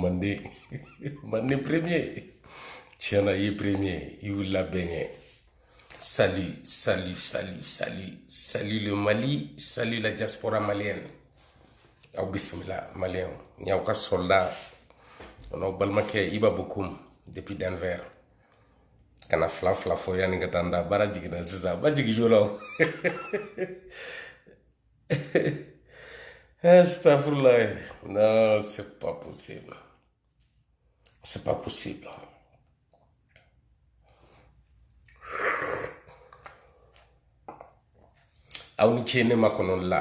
mandi mandi premier tiɲɛ na i ye premier i y'u labɛn kɛ salut salut salut salut salut le mali salut la diaspora malienne aw bisimila maliyɛn n y'aw ka soldat o n'aw balimakɛ iba bokum depuis denver ka na fila fila fɔ yanni n ka taa n da baara jiginna sisan ba jigin joona o astafurulayi non c'est pas possible c'est pas possible aw ni ce ne makɔnɔ la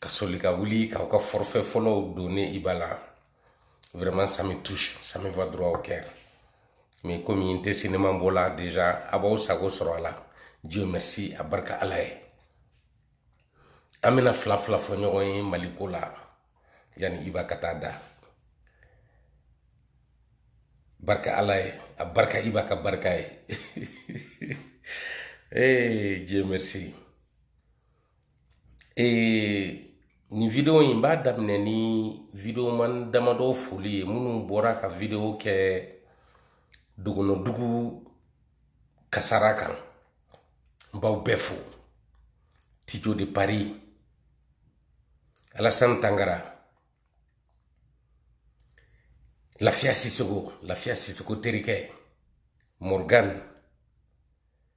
ka soli ka wuli k'aw ka forfait fɔlɔw don ne iba la vraiment ça me touche ça me va droit au cœur mais comme n tɛ cinéma bɔ la déjà aw b'aw sago sɔrɔ a la dieu merci a barka ala ye an bɛna fila fila fɔ ɲɔgɔn ye maliko la yanni iba ka taa da barka ala ye a barka iba ka barka ye ee dieu merci ee nin video in n b'a daminɛ ni videoman damadɔ foli ye minnu bɔra ka video kɛ dogonodugu kasara kan n b'aw bɛɛ fo tijo de paris alasan tangara lafiya sisoko terikɛ morgan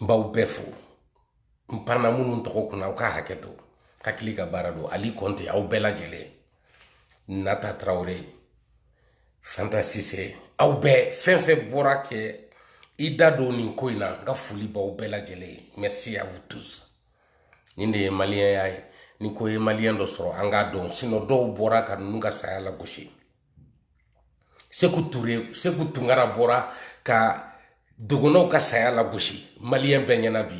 n b'aw bɛɛ fo n panna minnu tɔgɔ kunna aw ka hakɛto hakili ka baara don ali kɔnte aw bɛɛ lajɛlen nata tarawele fanta sise aw bɛɛ fɛn fɛn bɔra k'i da don nin ko in na n ka foli b'aw bɛɛ lajɛlen ye merci à vous tous nin de ye maliyɛnya ye ni ko ye maliyɛn dɔ sɔrɔ an k'a dɔn sinon dɔw bɔra ka ninnu ka saya lagosi seku ture seku tunkara bɔra ka dogonaw ka saya lagosi maliyɛn bɛɛ ɲɛ na bi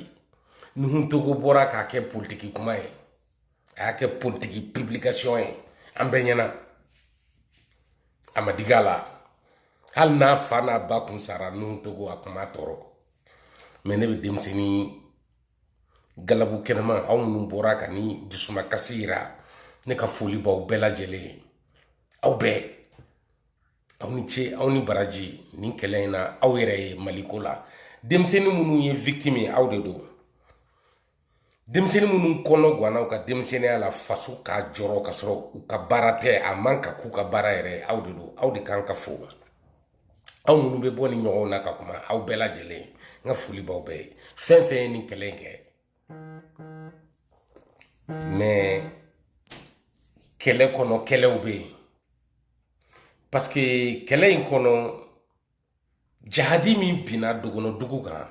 nuhu togo bɔra k'a kɛ politiki kuma ye a y'a kɛ politiki publikasiyɔn ye an bɛɛ ɲɛ na a ma digi a la hali n'a fa n'a ba kun sara nuhu togo a kun b'a tɔɔrɔ mais ne bɛ denmisɛnnin galabu kɛnɛma aw minnu bɔra ka nin dusumakasi yira ne ka foli b'aw bɛɛ lajɛlen ye aw bɛɛ aw ni ce aw ni baraji nin kɛlɛ in na aw yɛrɛ ye maliko la denmisɛnnin minnu ye victime ye aw de don denmisɛnnin minnu kɔnɔ ganna u ka denmisɛnninya la faso k'a jɔrɔ ka sɔrɔ u ka baara tɛ a man ka k'u ka baara yɛrɛ ye aw de don aw de kan ka fo aw minnu bɛ bɔ ni ɲɔgɔn na ka kuma aw bɛɛ lajɛlen n ka foli b'aw bɛɛ ye fɛn fɛn ye nin kɛlɛ in kɛ mɛ kɛlɛ kɔnɔ kɛlɛw bɛ yen paseke kɛlɛ in kɔnɔ jahadi min binna dogono dugu kan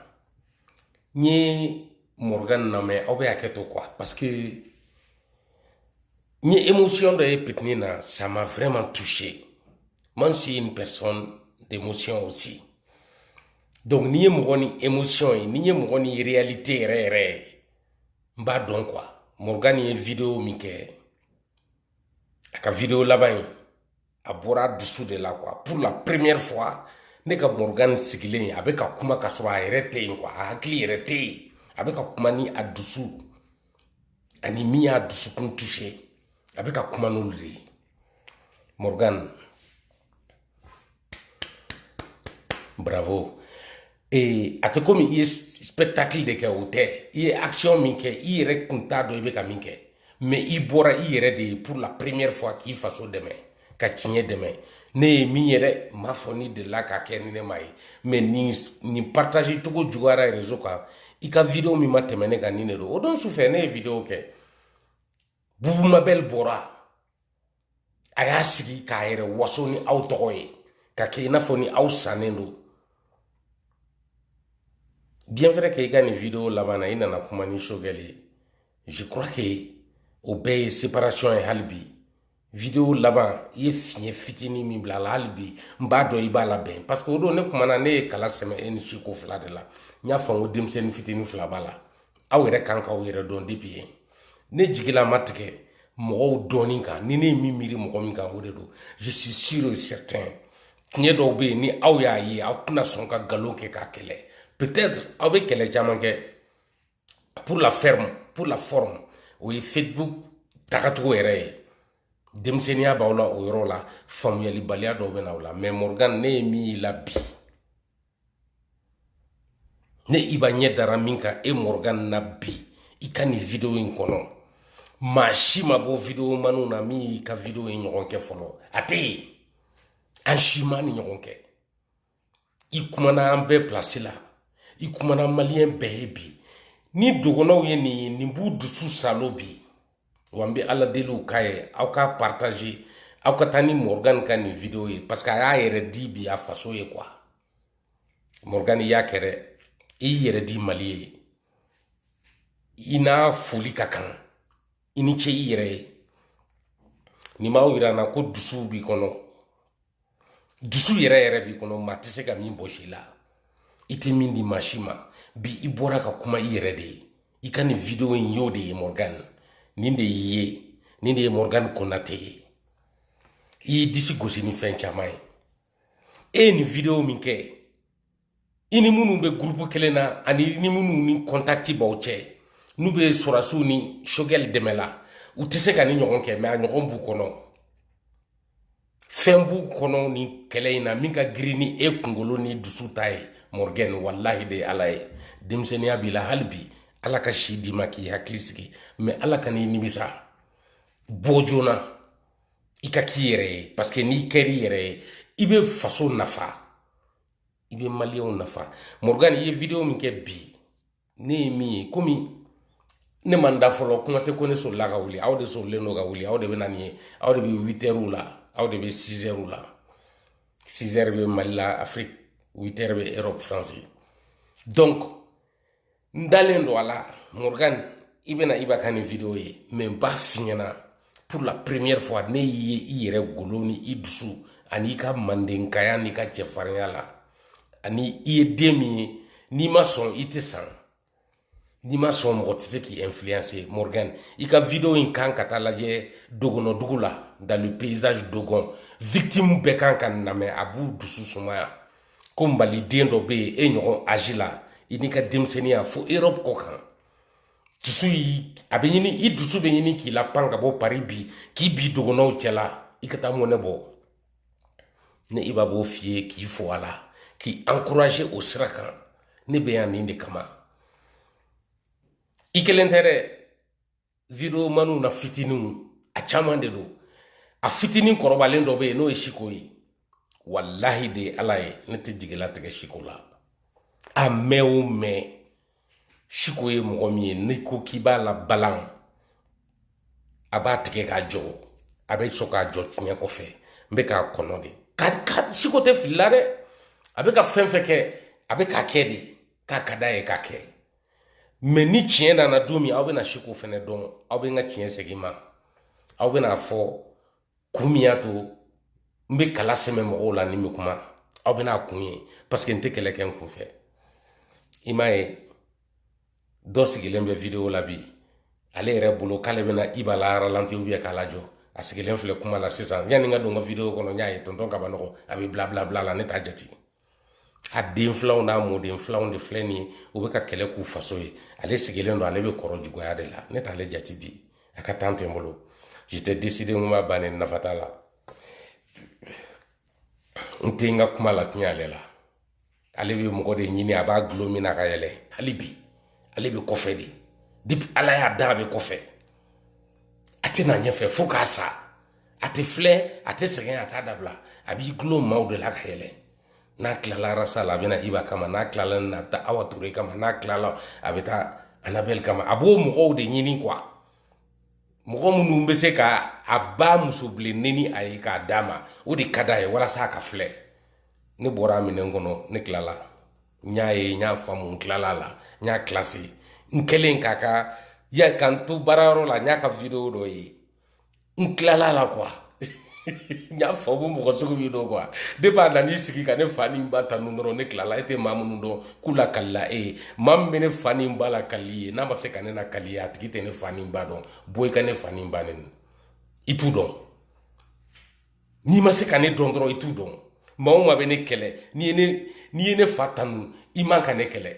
n ye mɔrɔgan lamɛn aw bɛ hakɛ to kuwa paseke n ye émotion dɔ ye pitini na ça m'a vraiment touché moi je suis une personne d'émotion aussi donc n'i ye mɔgɔ ni émotion ye n'i ye mɔgɔ ni réalité yɛrɛ yɛrɛ ye n b'a dɔn quoi morgan ye video min kɛ a ka video laban in a bɔra dusu de la quoi pour la première fois ne ka morgan sigilen a bɛ ka kuma ka sɔrɔ a yɛrɛ tɛ yen quoi a hakili yɛrɛ tɛ yen a bɛ ka kuma ni a dusu ani min y'a dusukun touché a bɛ ka kuma n'olu de ye morgan bravo ee a tɛ komi i ye spectacle de kɛ o tɛ i ye action min kɛ i yɛrɛ kun t'a dɔn i bɛ ka min kɛ mais i bɔra i yɛrɛ de ye pour la première fois k'i faso dɛmɛ ka tiɲɛ dɛmɛ ne ye min ye dɛ n m'a fɔ n'i delila k'a kɛ ni ne m'a ye mais nin partager cogo juguyara réseau kan i ka video min ma tɛmɛ ne kan nin de don o don su fɛ ne ye video kɛ bubu mabɛli bɔra a y'a sigi k'a yɛrɛ waso ni aw tɔgɔ ye ka kɛ i n'a fɔ ni aw sannen don bien vrai que i ka nin video laban na i nana kuma ni choguel ye je crois que o bɛɛ ye séparation ye hali bi video laban i ye fiɲɛ fitinin min bila a la hali bi n b'a dɔn i b'a labɛn parce que o don ne kumana ne ye kala sɛmɛ e ni siko fila de la n y'a fɔ n ko denmisɛnnin fitinin fila b'a la aw yɛrɛ kan k'aw yɛrɛ dɔn depuis yen ne jigila ma tigɛ mɔgɔw dɔɔnin kan ni ne ye min miiri mɔgɔ min kan o de don je suis sûr et certain tiɲɛ dɔw bɛ yen ni aw y'a ye aw tɛna sɔn ka nkalon kɛ k'a kɛlɛ peut-être aw bɛ kɛlɛ caman kɛ pour la ferme pour la forme o ye facebook tagacogo yɛrɛ ye denmisɛnninya b'aw la o yɔrɔ la faamuyalibaliya dɔw bɛ na aw la mais morgan ne ye min y'i la bi ne iba ɲɛ dara min kan e mɔrɔgan na bi i ka nin videwo in kɔnɔ maa si ma bɔ videwo manw na min y'i ka videwo in ɲɔgɔn kɛ fɔlɔ a tɛ yen an si ma nin ɲɔgɔn kɛ i kumana an bɛɛ pilasi la i kumana maliyɛn bɛɛ ye bi ni dɔgɔnɔw ye nin ye nin b'u dusu saalo bi wa n bɛ ala deli aw k'a ye aw k'a partager aw ka taa ni morgan ka nin video ye parce que a y'a yɛrɛ di bi a faso ye quoi morgan i y'a kɛ dɛ i y'i yɛrɛ di mali ye i n'a foli ka kan i ni ce i yɛrɛ ye nin b'a yira n na ko dusu b'i kɔnɔ dusu yɛrɛ yɛrɛ b'i kɔnɔ maa tɛ se ka min bɔs'i la i tɛ min di maa si ma bi i bɔra ka kuma i yɛrɛ de ye i ka nin video in y'o de ye morgan nin de y'i ye nin de ye morgan konate ye i y'i disi gosi ni fɛn caman ye e ye nin video min kɛ i ni minnu bɛ gurupu kelen na ani ni minnu ni contact b'aw cɛ n'u bɛ sɔrɔsiw ni choguel dɛmɛ la u tɛ se ka nin ɲɔgɔn kɛ mɛ a ɲɔgɔn b'u kɔnɔ fɛn b'u kɔnɔ nin kɛlɛ in na min ka girin ni e kunkolo ni dusu ta ye morgan walahi de ye ala ye denmisɛnninya b'i la hali bi ala ka si d'i ma k'i hakili sigi mɛ ala ka n'i nimisa bɔ joona i ka k'i yɛrɛ ye parce que n'i kɛr'i yɛrɛ ye i bɛ faso nafa i bɛ maliyɛnw nafa morgan i ye video min kɛ bi ne ye min ye komi ne ma n da fɔlɔ kuma tɛ ko ne sɔrɔla ka wuli aw de sɔrɔlen don ka wuli aw de bɛna nin ye aw de bɛ witɛriw la aw de bɛ sizɛriw la sizɛri bɛ mali la afiriki witɛri bɛ erɔpu faransi donc n dalen don a la morgan i bɛna iba ka nin video ye mɛ n b'a f'i ɲɛna pour la première fois ne y'i ye i yɛrɛ golo ni i dusu an'i ka mandenkaya n'i ka cɛfarinya la ani i ye den min ye n'i ma sɔn i tɛ san n'i ma sɔn mɔgɔ tɛ se k'i influencer morgan i ka video in kan ka taa lajɛ dogonɔdugu la dans le paysage dogon victime bɛɛ kan k'a namɛn a b'u dusu sumaya ko maliden dɔ bɛ yen e ɲɔgɔn âge la i n'i ka denmisɛnninya fo erɔpu kɔ kan dusu yi a bɛ ɲini i dusu bɛ ɲini k'i lapan ka bɔ paris bi k'i bin dogonɔw cɛla i ka taa mɔnɛ bɔ ne iba b'o f'i ye k'i fo a la k'i encourager o sira kan ne bɛ yan nin de kama i kelen tɛ dɛ videomaniw na fitininw a caman de don a fitinin kɔrɔbalen dɔ bɛ yen n'o ye siko ye walahi de ye ala ye ne tɛ jigi latigɛ siko la a mɛn o mɛn siko ye mɔgɔ min ye n'i ko k'i b'a labalan a b'a tigɛ k'a jɔ a bɛ sɔn k'a jɔ tiɲɛ kɔfɛ n bɛ k'a kɔnɔ de ka siko tɛ fili la dɛ a bɛ ka fɛn fɛn kɛ a bɛ k'a kɛ de k'a ka d'a ye k'a kɛ mɛ ni tiɲɛ nana don min aw bɛna siko fɛnɛ dɔn aw bɛ n ka tiɲɛ segin n ma aw bɛn'a fɔ kun min y'a to n bɛ kala sɛmɛ mɔgɔw la ni n bɛ kuma aw bɛn'a kun ye parce que n tɛ kɛlɛ kɛ n kun fɛ i m'a ye dɔ sigilen bɛ video la bi ale yɛrɛ bolo k'ale bɛna iba la ralenti ou bien k'a lajɔ a sigilen filɛ kuma la sisan yanni n ka don n ka video kɔnɔ n y'a ye tɔntɔn kaba nɔgɔ a bɛ bila bila bila la ne t'a jate a den filanw n'a mɔden filanw de filɛ nin ye u bɛ ka kɛlɛ k'u faso ye ale sigilen don ale bɛ kɔrɔ juguya de la ne t'ale jate bi a ka tan tɛ n bolo j'étais décidé n ko a bannen nafa t'a la n tɛ n ka kuma latiɲɛ ale la ale bɛ mɔgɔ de ɲini a b'a gulon min na ka yɛlɛ hali bi ale bɛ kɔfɛ de depi ala y'a da a bɛ kɔfɛ a tɛ na ɲɛfɛ fo k'a sa a tɛ filɛ a tɛ sɛgɛn a t'a dabila a b'i gulon maaw de la ka yɛlɛ n'a tilala arasa la a bɛ na iba kama n'a tilala nin na a bɛ taa awa ture kama n'a tilala a bɛ taa anabɛli kama a b'o mɔgɔw de ɲini kuwa mɔgɔ minnu bɛ se ka a ba muso bilen nɛni a ye k'a d'a ma o de ka d'a ye walasa a ka filɛ ne bɔra a minɛn kɔnɔ ne tilala n y'a ye n y'a faamu n tilala a la n y'a kilase n kɛlen k'a ka ya ka n to baarayɔrɔ la n y'a ka wideyo dɔ ye n kilala a la kuwa n y'a faamu mɔgɔ sugu min don kuwa de b'a na n'i sigi ka ne fa ni ba tanu dɔrɔn ne kilala e tɛ maa minnu dɔn k'u lakalila e ye maa min bɛ ne fa ni ba lakali i ye n'a ma se ka ne nakali i ye a tigi tɛ ne fa ni ba dɔn bɔ i ka ne fa ni ba nɛni i t'u dɔn n'i ma se ka ne dɔn dɔrɔn i t'u dɔn maa o maa bɛ ne kɛlɛ n'i ye ne n'i ye ne fa tanu i man ka ne kɛlɛ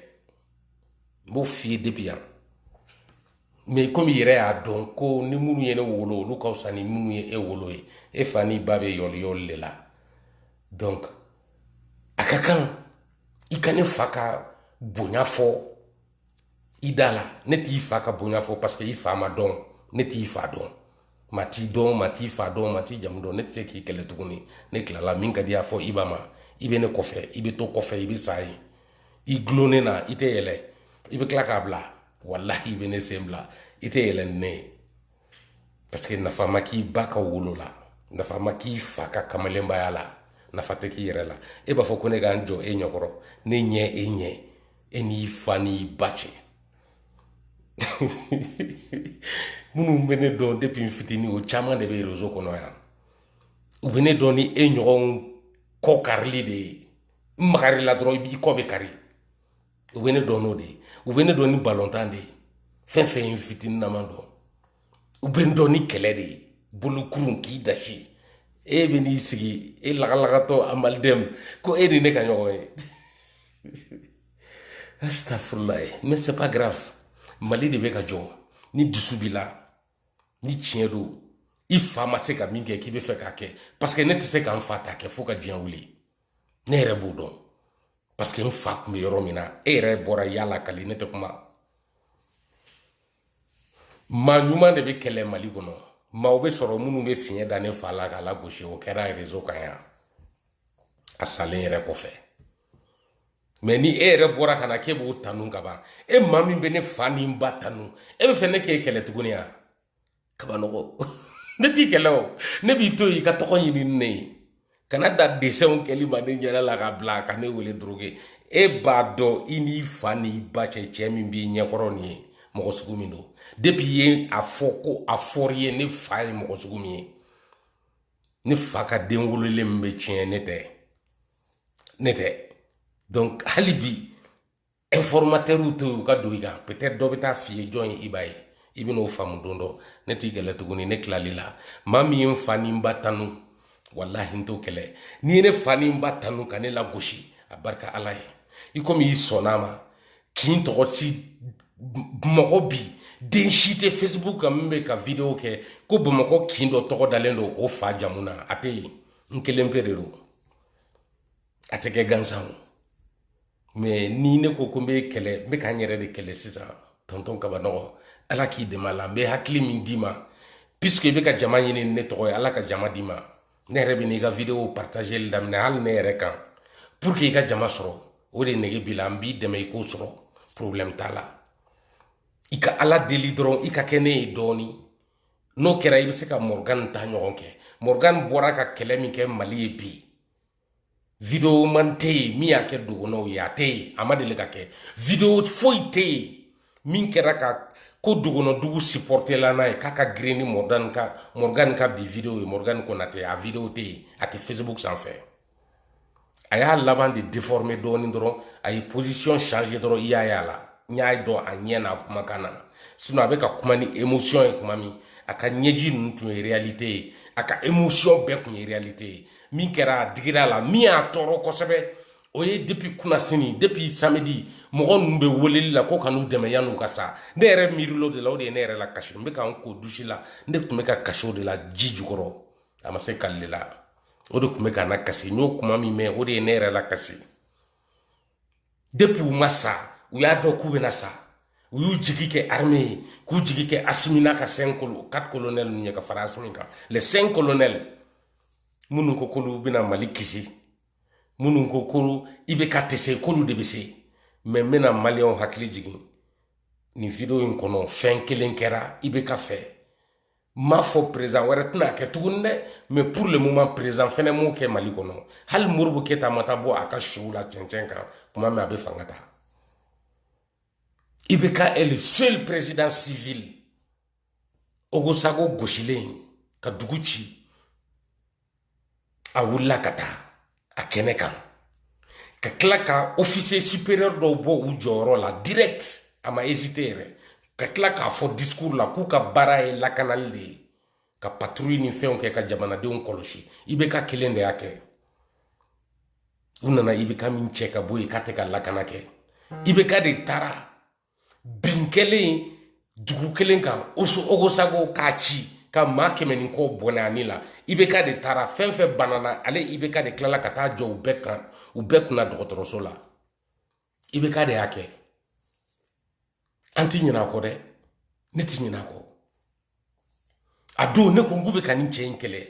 n b'o f'i ye depi yan mɛ komi i yɛrɛ y'a dɔn ko ni minnu ye ne wolo olu ka wusa ni minnu ye e wolo ye e fa ni ba bɛ yɔli yɔli de la donc a ka kan i ka ne fa ka bonya fɔ i da la ne t'i fa ka bonya fɔ parce que i fa ma dɔn ne t'i fa dɔn maa t'i dɔn maa t'i fa dɔn maa t'i jamu dɔn ne tɛ se k'i kɛlɛ tuguni ne tilala min ka d'i ye a fɔ i ba ma i bɛ ne kɔfɛ i bɛ to kɔfɛ i bɛ sa yen i dulonnen na i tɛ yɛlɛ i bɛ tila k'a bila walahi i bɛ ne sen bila i tɛ yɛlɛ ni ne ye parce que nafa ma k'i ba ka wolo la nafa ma k'i fa ka kamalenbaya la nafa tɛ k'i yɛrɛ la e b'a fɔ ko ne ka n jɔ e ɲɛkɔrɔ ne ɲɛ e ɲɛ e n'i fa n'i ba cɛ minnu bɛ ne dɔn depi n fitinin o caman de bɛ rezo kɔnɔ yan u bɛ ne dɔn ni e ɲɔgɔn kɔ karili de ye n magar'i la dɔrɔn n b'i kɔ bɛɛ kari u bɛ ne dɔn n'o de ye u bɛ ne dɔn ni balontan de ye fɛn fɛn ye n fitinin na maa don u bɛ n dɔn ni kɛlɛ de ye bolokurun k'i dasi e bɛ n'i sigi e lagalagatɔ amaliden ko e ni ne ka ɲɔgɔn ye asitafurula ye mɛ se pa garafu mali de bɛ ka jɔ ni dusu b'i la ni tiɲɛ don i fa ma se ka min kɛ k'i bɛ fɛ k'a kɛ paseke ne tɛ se ka n fa ta kɛ fo ka diɲɛ wuli ne yɛrɛ b'o dɔn parce que n fa tun bɛ yɔrɔ min na e yɛrɛ bɔra y'a lakali ne tɛ kuma maa ɲuman de bɛ kɛlɛ mali kɔnɔ maaw bɛ sɔrɔ minnu bɛ fiɲɛ da ne fa la k'a lagosi o kɛra réseau kan yan a salen yɛrɛ kɔfɛ mais ni e yɛrɛ bɔra ka na k'e b'o tanu ka ban e maa min bɛ ne fa ni n ba tanu e bɛ fɛ ne k'e kɛlɛ tuguni yan kabanɔgɔ ne t'i kɛlɛ o ne b'i to yen i ka tɔgɔ ɲini ne ye kana dan dessinw kɛli ma ne ɲɛda la ka bila ka ne wele drogué e b'a dɔn i n'i fa n'i ba cɛ cɛ min b'i ɲɛkɔrɔ nin ye mɔgɔ sugu min don depuis i y'a fɔ ko a fɔr'i ye ne fa ye mɔgɔ sugu min ye ne fa ka den wololen min bɛ tiɲɛ ne tɛ donc hali bi informateurw to yen u ka don i kan peut-être dɔ bɛ t'a f'i ye jɔn ye i ba ye i bɛn'o faamu don dɔ ne t'i kɛlɛ tuguni ne tilal'i la maa min ye n fa ni n ba tanu walahi n t'o kɛlɛ n'i ye ne fa ni n ba tanu ka ne lagosi abarika ala ye i komi i sɔnna a ma kin tɔgɔ si mɔgɔ bi den si tɛ facebook kan min bɛ ka video kɛ ko bamakɔ kin dɔ tɔgɔ dalen don o fa jamu na a tɛ yen n kelen pe de don a tɛ kɛ gansan o mais ni ne ko ko n bɛ kɛlɛ n bɛ ka n yɛrɛ de kɛlɛ sisan tɔntɔn kabanɔgɔ ala k'i dɛmɛ a la n bɛ hakili min d'i ma puisque i bɛ ka jama ɲini ne tɔgɔ ye ala ka jama d'i ma ne yɛrɛ bɛn'i ka video partageli daminɛ hali ne yɛrɛ kan pour que i ka jama sɔrɔ o de nege b'i la n b'i dɛmɛ i k'o sɔrɔ problème t'a la i ka ala deli dɔrɔn i ka kɛ ne ye dɔɔni n'o kɛra i bɛ se ka morgan ta ɲɔgɔn kɛ morgan bɔra ka kɛlɛ min kɛ mali ye bi videoman tɛ yen min y'a kɛ dogonɔw ye a tɛ yen a ma deli k'a kɛ video foyi tɛ yen min kɛra ka ko dogonɔdugu supportela n'a ye k'a ka girin ni morgan ka morgan ka bi video ye morgan konate a video tɛ yen a tɛ facebook sanfɛ a y'a laban de déformer dɔɔnin dɔrɔn a ye position changer dɔrɔn i y'a ye a la n y'a dɔn a ɲɛ n'a kumakan na sinon a bɛ ka kuma ni émotion ye kuma min a ka ɲɛji ninnu tun ye réalité ye a ka émotion bɛɛ tun ye réalité ye min kɛra a digir'a la min y'a tɔɔrɔ kosɛbɛ o ye depuis kunasini depuis samedi mɔgɔ ninnu bɛ weleli la ko ka n'u dɛmɛ yan'u ka sa ne yɛrɛ miiril'o de la o de ye ne yɛrɛ lakasi n bɛ ka n ko douche la ne tun bɛ ka kasi o de la ji jukɔrɔ a ma se kali la o de tun bɛ ka n lakasi n y'o kuma min mɛn o de ye ne yɛrɛ lakasi depuis u ma sa u y'a dɔn k'u bɛna sa u y'u jigi kɛ armée ye k'u jigi kɛ asimi n'a ka cinq colo quatre colonels ninnu ye ka fara asimi kan les cinq colonels minnu ko k'olu bɛna mali kisi minnu ko ko ibk tɛ se k'olu de bɛ se mais n bɛna maliyɛnw hakili jigin nin video in kɔnɔ fɛn kelen kɛra ibk fɛ m'a fɔ perezan wɛrɛ tɛna kɛ tuguni dɛ mais pour le moment perezan fɛnɛ m'o kɛ mali kɔnɔ hali modibo keyita ma taa bɔ a ka sow la cɛncɛn kan kuma min a bɛ fanga ta IBK est le seul président civil ogosago gosilen ka dugu ci a wulila ka taa a kɛnɛ kan ka tila ka officier supérieur dɔw bɔ u jɔyɔrɔ la direct a ma hésité yɛrɛ ka tila k'a fɔ discours la k'u ka baara ye lakanali de ye ka patrouille ni fɛnw kɛ ka jamanadenw kɔlɔsi IBK kelen de y'a kɛ u nana IBK min cɛ ka bɔ yen k'a tɛ ka lakana kɛ IBK de taara bin kɛlen dugu kelen kan ogosago k'a ci ka maa kɛmɛ ni kɔ bɔnɛ a ni la IBK de taara fɛn fɛn banana ale IBK de tilala ka taa jɔ u bɛɛ kunna dɔgɔtɔrɔso la IBK de y'a kɛ an ti ɲinɛ a kɔ dɛ ne ti ɲinɛ a kɔ a don ne ko n k'u bɛ ka nin cɛ in kɛlɛ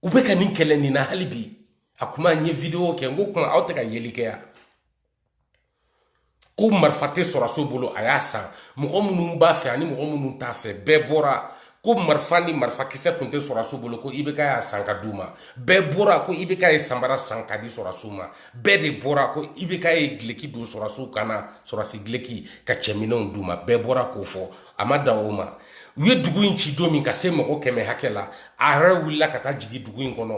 u bɛ ka nin kɛlɛ nin na hali bi a kuma n ye video kɛ n ko kuma aw tɛ ka yeli kɛ yan ko marifa tɛ sɔrɔsiw bolo a y'a san mɔgɔ minnu b'a fɛ ani mɔgɔ minnu t'a fɛ bɛɛ bɔra ko marifa ni marifakisɛ tun tɛ sɔrɔsiw bolo ko IBK y'a san ka d'u ma bɛɛ bɔra ko IBK ye sanbara san ka di sɔrɔsiw ma bɛɛ de bɔra ko IBK ye duloki don sɔrɔsiw kan na sɔrɔsi duloki ka cɛminɛnw d'u ma bɛɛ bɔra k'o fɔ a ma dan o ma u ye dugu in ci don min ka se mɔgɔ kɛmɛ hakɛ la a yɛrɛ wulila ka taa jigin dugu in kɔnɔ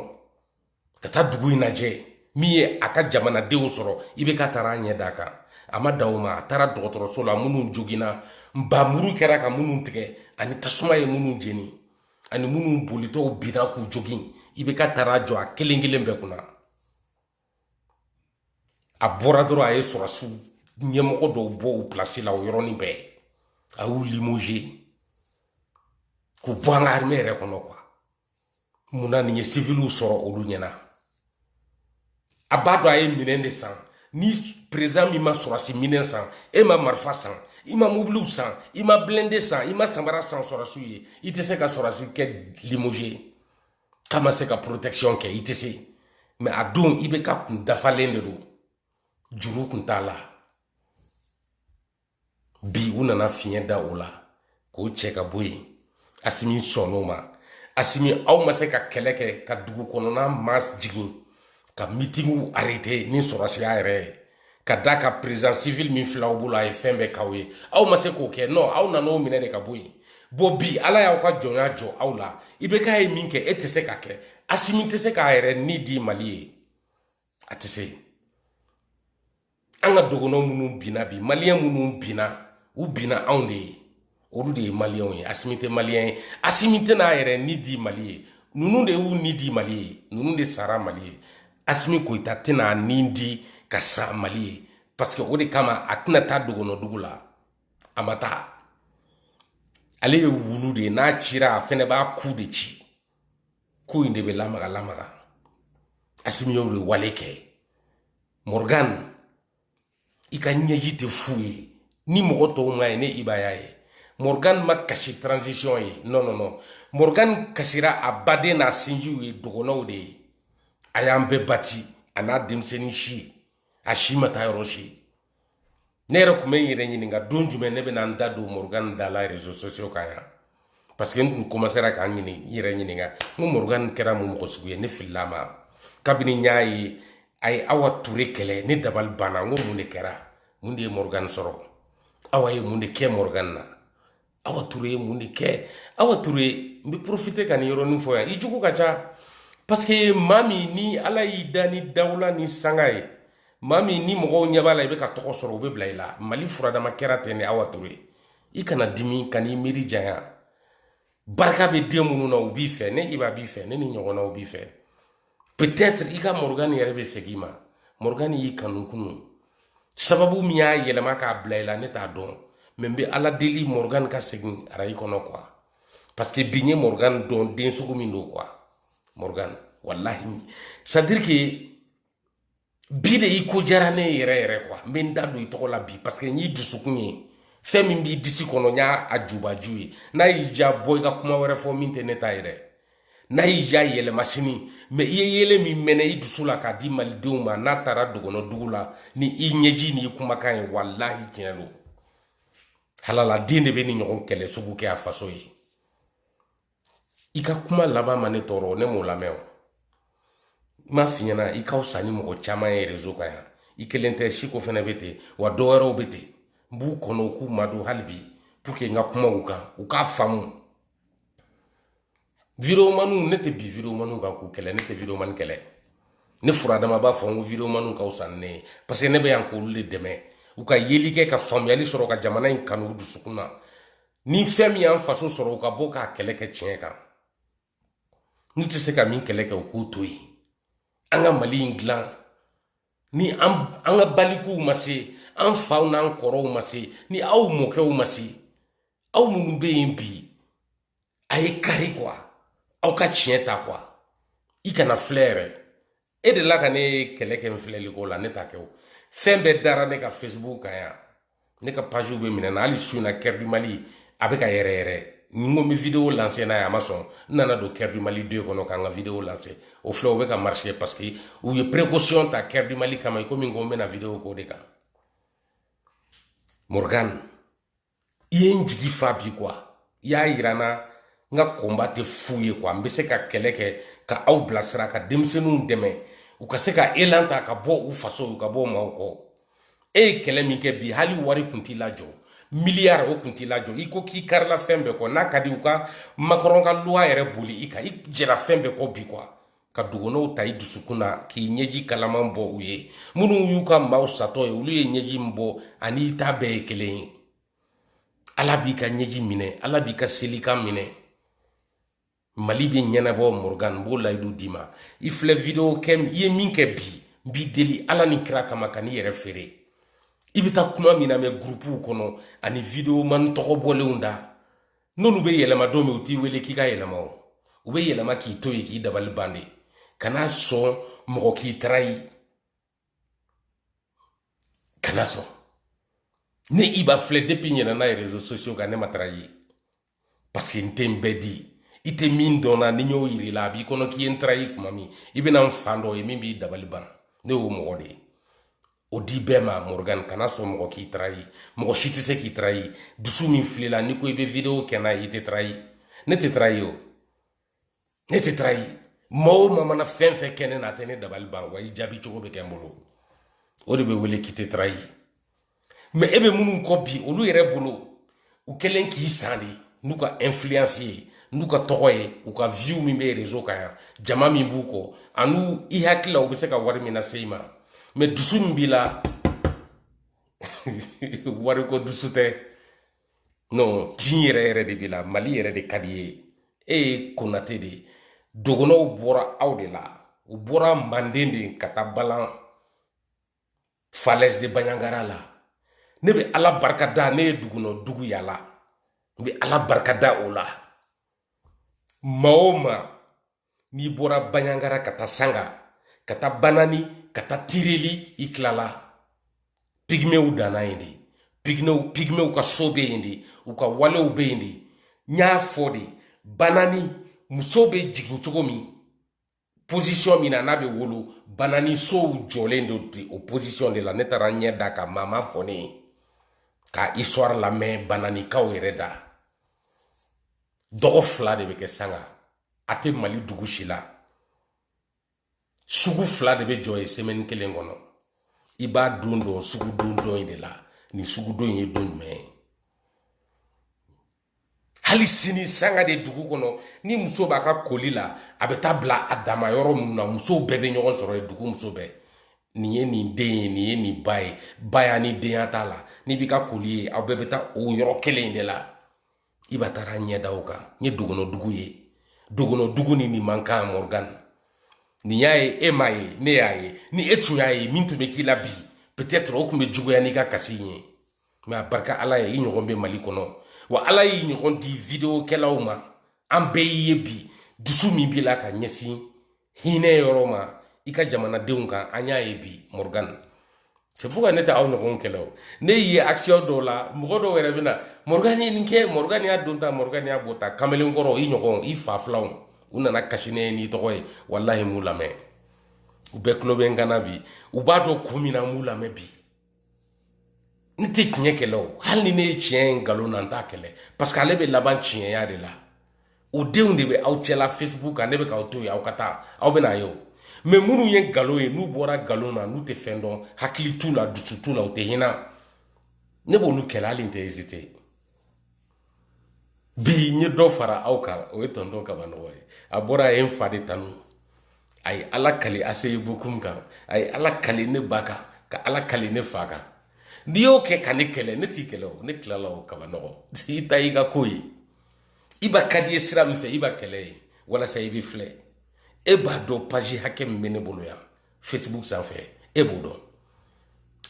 ka taa dugu in lajɛ min ye a ka jamanadenw sɔrɔ IBK taara a ɲɛ d'a kan a ma dan o ma a taara dɔgɔtɔrɔso la minnu joginna nbamuru kɛra ka minnu tigɛ ani tasuma ye minnu jeni ani minnu bolitɔw binna k'u jogin IBK taara jɔ a kelen kelen bɛɛ kunna a bɔra dɔrɔn a ye sɔrɔsiw ɲɛmɔgɔ dɔw bɔ u pilasi la o yɔrɔnin bɛɛ a y'u limogé k'u bɔ an ka arime yɛrɛ kɔnɔ quoi munna nin ye siviliw sɔrɔ olu ɲɛna a b'a dɔn a ye minɛn de san ni perezan min ma sɔrɔsi minɛn san i ma marifa san i ma mobiliw san i ma blindé san i ma samara san sɔrɔsiw ye i tɛ se ka sɔrɔsi kɛ limogé k'a ma se ka protection kɛ i tɛ se mais a don IBK kun dafalen de don juru kun t'a la bi u nana fiɲɛ da o la k'o cɛ ka bɔ yen asimi sɔnn'o ma asimi aw ma se ka kɛlɛ kɛ ka dugu kɔnɔna marche jigin ka mitingw arrêté ni sɔrɔsiya yɛrɛ ye ka da ka président civil min filɛ aw bolo a ye fɛn bɛɛ k'aw ye aw ma se k'o kɛ non aw nan'o minɛ de ka bɔ yen bon bi ala y'aw ka jɔnya jɔ aw la IBK ye min kɛ e tɛ se k'a kɛ asimi tɛ se k'a yɛrɛ ni di mali ye a tɛ se an ka dɔgɔnɔ minnu binna bi maliyɛn minnu binna u binna anw de ye olu de ye maliyɛnw ye asimi tɛ maliyɛn ye asimi tɛn'a yɛrɛ ni di mali ye ninnu de y'u ni di mali ye ninnu de sara mali ye asimi goyita tɛn'a ni di ka sa mali ye parce que o de kama a tɛna taa dɔgɔnɔdugu la a ma taa ale ye wulu de ye n'a cira a fɛnɛ b'a ku de ci ku in de bɛ lamaga lamaga asimi y'o de wale kɛ morgan i ka ɲɛji tɛ fu ye ni mɔgɔ tɔw m'a ye ne iba y'a ye morgan ma kasi transition ye non non non morgan kasira a baden n'a sinjiw ye dɔgɔnɔw de ye a y'an bɛɛ bati a n'a denmisɛnnin si a si ma taa yɔrɔ si ne yɛrɛ tun bɛ n yɛrɛ ɲininka don jumɛn ne bɛna n da don morgan da la réseaux sociaux kan yan parce que n kun commencera ka n ɲini n yɛrɛ ɲininka n ko morgan kɛra mun mɔgɔ sugu ye ne filila ma kabini n y'a ye a ye awa ture kɛlɛ ne dabali banna n ko mun de kɛra mun de ye morgan sɔrɔ awa ye mun de kɛ morgan na awa ture ye mun de kɛ awa ture n bɛ profiter ka nin yɔrɔnin fɔ yan i jugu ka ca parce que maa min ni ala y'i da ni dawula ni sanga ye maa min ni mɔgɔw ɲɛ b'a la i bɛ ka tɔgɔ sɔrɔ u bɛ bila i la mali furadama kɛra ten de awa ture i kana dimi kan'i miiri janya barika bɛ den minnu na u b'i fɛ ne iba b'i fɛ ne ni ɲɔgɔnnaw b'i fɛ peut-être i ka morgan yɛrɛ bɛ segin i ma morgan y'i kanu kunun sababu min y'a yɛlɛma k'a bila i la ne t'a dɔn mais n bɛ ala deli morgan ka segin arayi kɔnɔ quoi parce que bi n ye morgan dɔn den sugu min don quoi morgan walahi c'est à dire que bi de i ko diyara ne ye yɛrɛ yɛrɛ quoi n bɛ n da don i tɔgɔ la bi parce que n y'i dusukun ye fɛn min b'i disi kɔnɔ n y'a a jubaju ye n'a y'i diya bɔ i ka kuma wɛrɛ fɔ min tɛ ne ta yɛrɛ n'a y'i diya yɛlɛma sini mais i ye yelen min mɛnɛ i dusu la k'a di malidenw ma n'a taara dɔgɔnɔdugu la ni i ɲɛji ni i kumakan ye walahi tiɲɛ don halala den de bɛ nin ɲɔgɔn kɛlɛ sugu kɛ a faso ye i ka kuma laban ma ne tɔɔrɔ ne m'o lamɛn o n m'a f'i ɲɛna i ka fisa ni mɔgɔ caman ye réseau kan yan i kelen tɛ siko fɛnɛ bɛ ten wa dɔ wɛrɛw bɛ ten n b'u kɔnɔ u k'u madon hali bi pour que n ka kuma u kan u k'a faamu videomaniw ne tɛ bin videomaniw kan k'u kɛlɛ ne tɛ videomani kɛlɛ ne furadama b'a fɔ n ko videomaniw ka fisa ni ne ye parce que ne bɛ yan k'olu de dɛmɛ u ka yeli kɛ ka faamuyali sɔrɔ ka jamana in kanu u dusukun na ni fɛn min y'an faso sɔrɔ u ka bɔ k'a kɛlɛ kɛ tiɲɛ kan n'u tɛ se ka min kɛlɛ kɛ u k'o to yen an ka mali in dilan ni an an ka balikuw ma se an faw n'an kɔrɔw ma se ni aw mɔkɛw ma se aw minnu bɛ yen bi a ye kari quoi aw ka tiɲɛ ta quoi i kana filɛ yɛrɛ e de la ka ne kɛlɛ kɛ n filɛli ko la ne ta kɛ o fɛn bɛɛ dara ne ka facebook kan yan ne ka page bɛɛ minɛna hali su na cœur du mali a bɛ ka yɛrɛ yɛrɛ ni n ko n bɛ video lanse n'a ye a ma sɔn n nana don cœur du mali deux kɔnɔ ka n ka video lanse o filɛ o bɛ ka marché parce que u ye précaution ta cœur du mali kama i komi n ko n bɛna video k'o de kan morgan i ye n jigi fa bi kuwa i y'a yira n na n ka kɔnba tɛ fu ye kuwa n bɛ se ka kɛlɛ kɛ ka aw bilasira ka denmisɛnninw dɛmɛ u ka se ka elan ta ka bɔ u faso u ka bɔ maaw kɔ e ye kɛlɛ min kɛ bi hali wari kun t'i lajɔ miliyari o kun t'i lajɔ i ko k'i karila fɛn bɛɛ kɔ n'a ka di u ka makɔrɔn ka luwa yɛrɛ boli i kan i jɛra fɛn bɛɛ kɔ bi kuwa ka dogonɔw ta i dusukun na k'i ɲɛji kalaman bɔ u ye minnu y'u ka maaw satɔ ye olu ye ɲɛji min bɔ ani i ta bɛɛ ye kelen ye ala b'i ka ɲɛji minɛ ala b'i ka selikan minɛ mali bɛ ɲɛnabɔ morgan n b'o layidu d'i ma i filɛ video kɛ i ye min kɛ bi n b'i deli ala ni kira kama kan'i yɛrɛ feere i bɛ taa kuma min lamɛn gurupuw kɔnɔ ani videoman tɔgɔ bɔlenw da n'olu bɛ yɛlɛma don min u t'i wele k'i ka yɛlɛma o u bɛ yɛlɛma k'i to yen k'i dabali ban de kana sɔn mɔgɔ k'i tarayi kana sɔn ne i b'a filɛ depi ne nana rezo sosiyo kan ne ma tarayi paseke n tɛ n bɛɛ di i tɛ min dɔn n na ni n y'o yir'i la a b'i kɔnɔ k'i ye n tarayi tuma min i bɛna n fan dɔ ye min b'i dabali ban ne y'o mɔgɔ de ye o di bɛɛ ma morgan kana sɔn mɔgɔ k'i tarayi mɔgɔ si tɛ se k'i tarayi dusu min fil'i la n'i ko i bɛ video kɛ n'a ye i tɛ tarayi ne tɛ tarayi o ne tɛ tarayi maa o maa mana fɛn fɛn kɛ ne na a tɛ ne dabali ban wa i jaabi cogo bɛ kɛ n bolo o de bɛ wele k'i tɛ tarayi mɛ e bɛ minnu kɔ bi olu yɛrɛ bolo u kɛlen k'i san de n'u ka influence ye n'u ka tɔgɔ ye u ka view min bɛ réseau kan yan jama min b'u kɔ an'u i hakili la u bɛ se ka wari min lase i ma mɛ dusu min b'i la wariko dusu tɛ non tin yɛrɛ yɛrɛ de b'i la mali yɛrɛ de ka d'i ye e ye konate de ye dogonɔw bɔra aw de la u bɔra manden de ka taa balan falɛsi de baɲangara la ne bɛ ala barika da ne ye dogonɔ dugu yaala n bɛ ala barika da o la maa o maa n'i bɔra baɲangara ka taa sanga ka taa banani ka taa tireli i tilala pigimew danna yen de pigimew ka so bɛ yen de u ka walew bɛ yen de n y'a fɔ de banani muso bɛ jigin cogo min posisɔn min na n'a bɛ wolo banani sow jɔlen don ten o posisɔn de la ne taara ɲɛ da a kan maa m'a fɔ ne ye k'a histoire lamɛn bananikaw yɛrɛ da dɔgɔ fila de bɛ kɛ sanga a tɛ mali dugu si la sugu fila de bɛ jɔ yen semɛni kelen kɔnɔ i b'a don dɔn sugudon don in de la nin sugudon in ye don jumɛn ye hali sini sanga de dugu kɔnɔ ni muso b'a ka koli la a bɛ taa bila a dama yɔrɔ minnu na musow bɛɛ bɛ ɲɔgɔn sɔrɔ yen dugu muso bɛɛ nin ye nin den ye nin ye nin ba ye baya ni denya t'a la n'i b'i ka koli ye aw bɛɛ bɛ taa o yɔrɔ kelen in de la i ba taara ɲɛ da o kan n ye dɔgɔnɔ dugu ye dɔgɔnɔ dugu ni nin man kan morgan ne y'a ye e m'a ye ne y'a ye ni e tun y'a ye min tun bɛ k'i la bi peut-être o tun bɛ juguya n'i ka kasi in ye mɛ a barika ala ye i ɲɔgɔn bɛ mali kɔnɔ wa ala y'i ɲɔgɔn di videokɛlaw ma an bɛɛ y'i ye bi dusu min b'i la ka ɲɛsin hinɛ yɔrɔ ma i ka jamanadenw kan an y'a ye bi morgan c'est pourquoi ne tɛ aw ɲɔgɔn kɛlɛ o ne ye action dɔw la mɔgɔ dɔw yɛrɛ bɛna morgan ye nin kɛ morgan y'a don ta morgan y'a bɔ ta kamalenkɔrɔ i ɲɔgɔn i fa filanw u nana kasi ne ye n'i tɔgɔ ye walahi n m'u lamɛn u bɛɛ tulo bɛ n kan na bi u b'a dɔn kun min na n m'u lamɛn bi n tɛ tiɲɛ kɛlɛ o hali ni ne ye tiɲɛ ye nkalon na n t'a kɛlɛ paseke ale bɛ laban tiɲɛya de la o denw de bɛ aw cɛla facebook kan ne bɛ k'aw to yen aw ka taa aw bɛn'a ye o mɛ minnu ye nkalon ye n'u bɔra nkalon na n'u tɛ fɛn dɔn hakili t'u la dusu t'u la u tɛ hinɛ ne b'olu kɛlɛ hali n tɛ ezite bi n ye dɔ fara aw kan o ye tɔntɔn kabanɔgɔ ye a bɔra a ye n fa de tanu a ye ala kali aseyi bokum kan a ye ala kali ne ba kan ka ala kali ne fa kan n'i y'o kɛ ka ne kɛlɛ ne t'i kɛlɛ o ne tilala o kabanɔgɔ i ta y'i ka ko ye i ba ka d'i ye sira min fɛ i ba kɛlɛ ye walasa i bɛ filɛ e b'a dɔn paji hakɛ min bɛ ne bolo yan facebook sanfɛ e b'o dɔn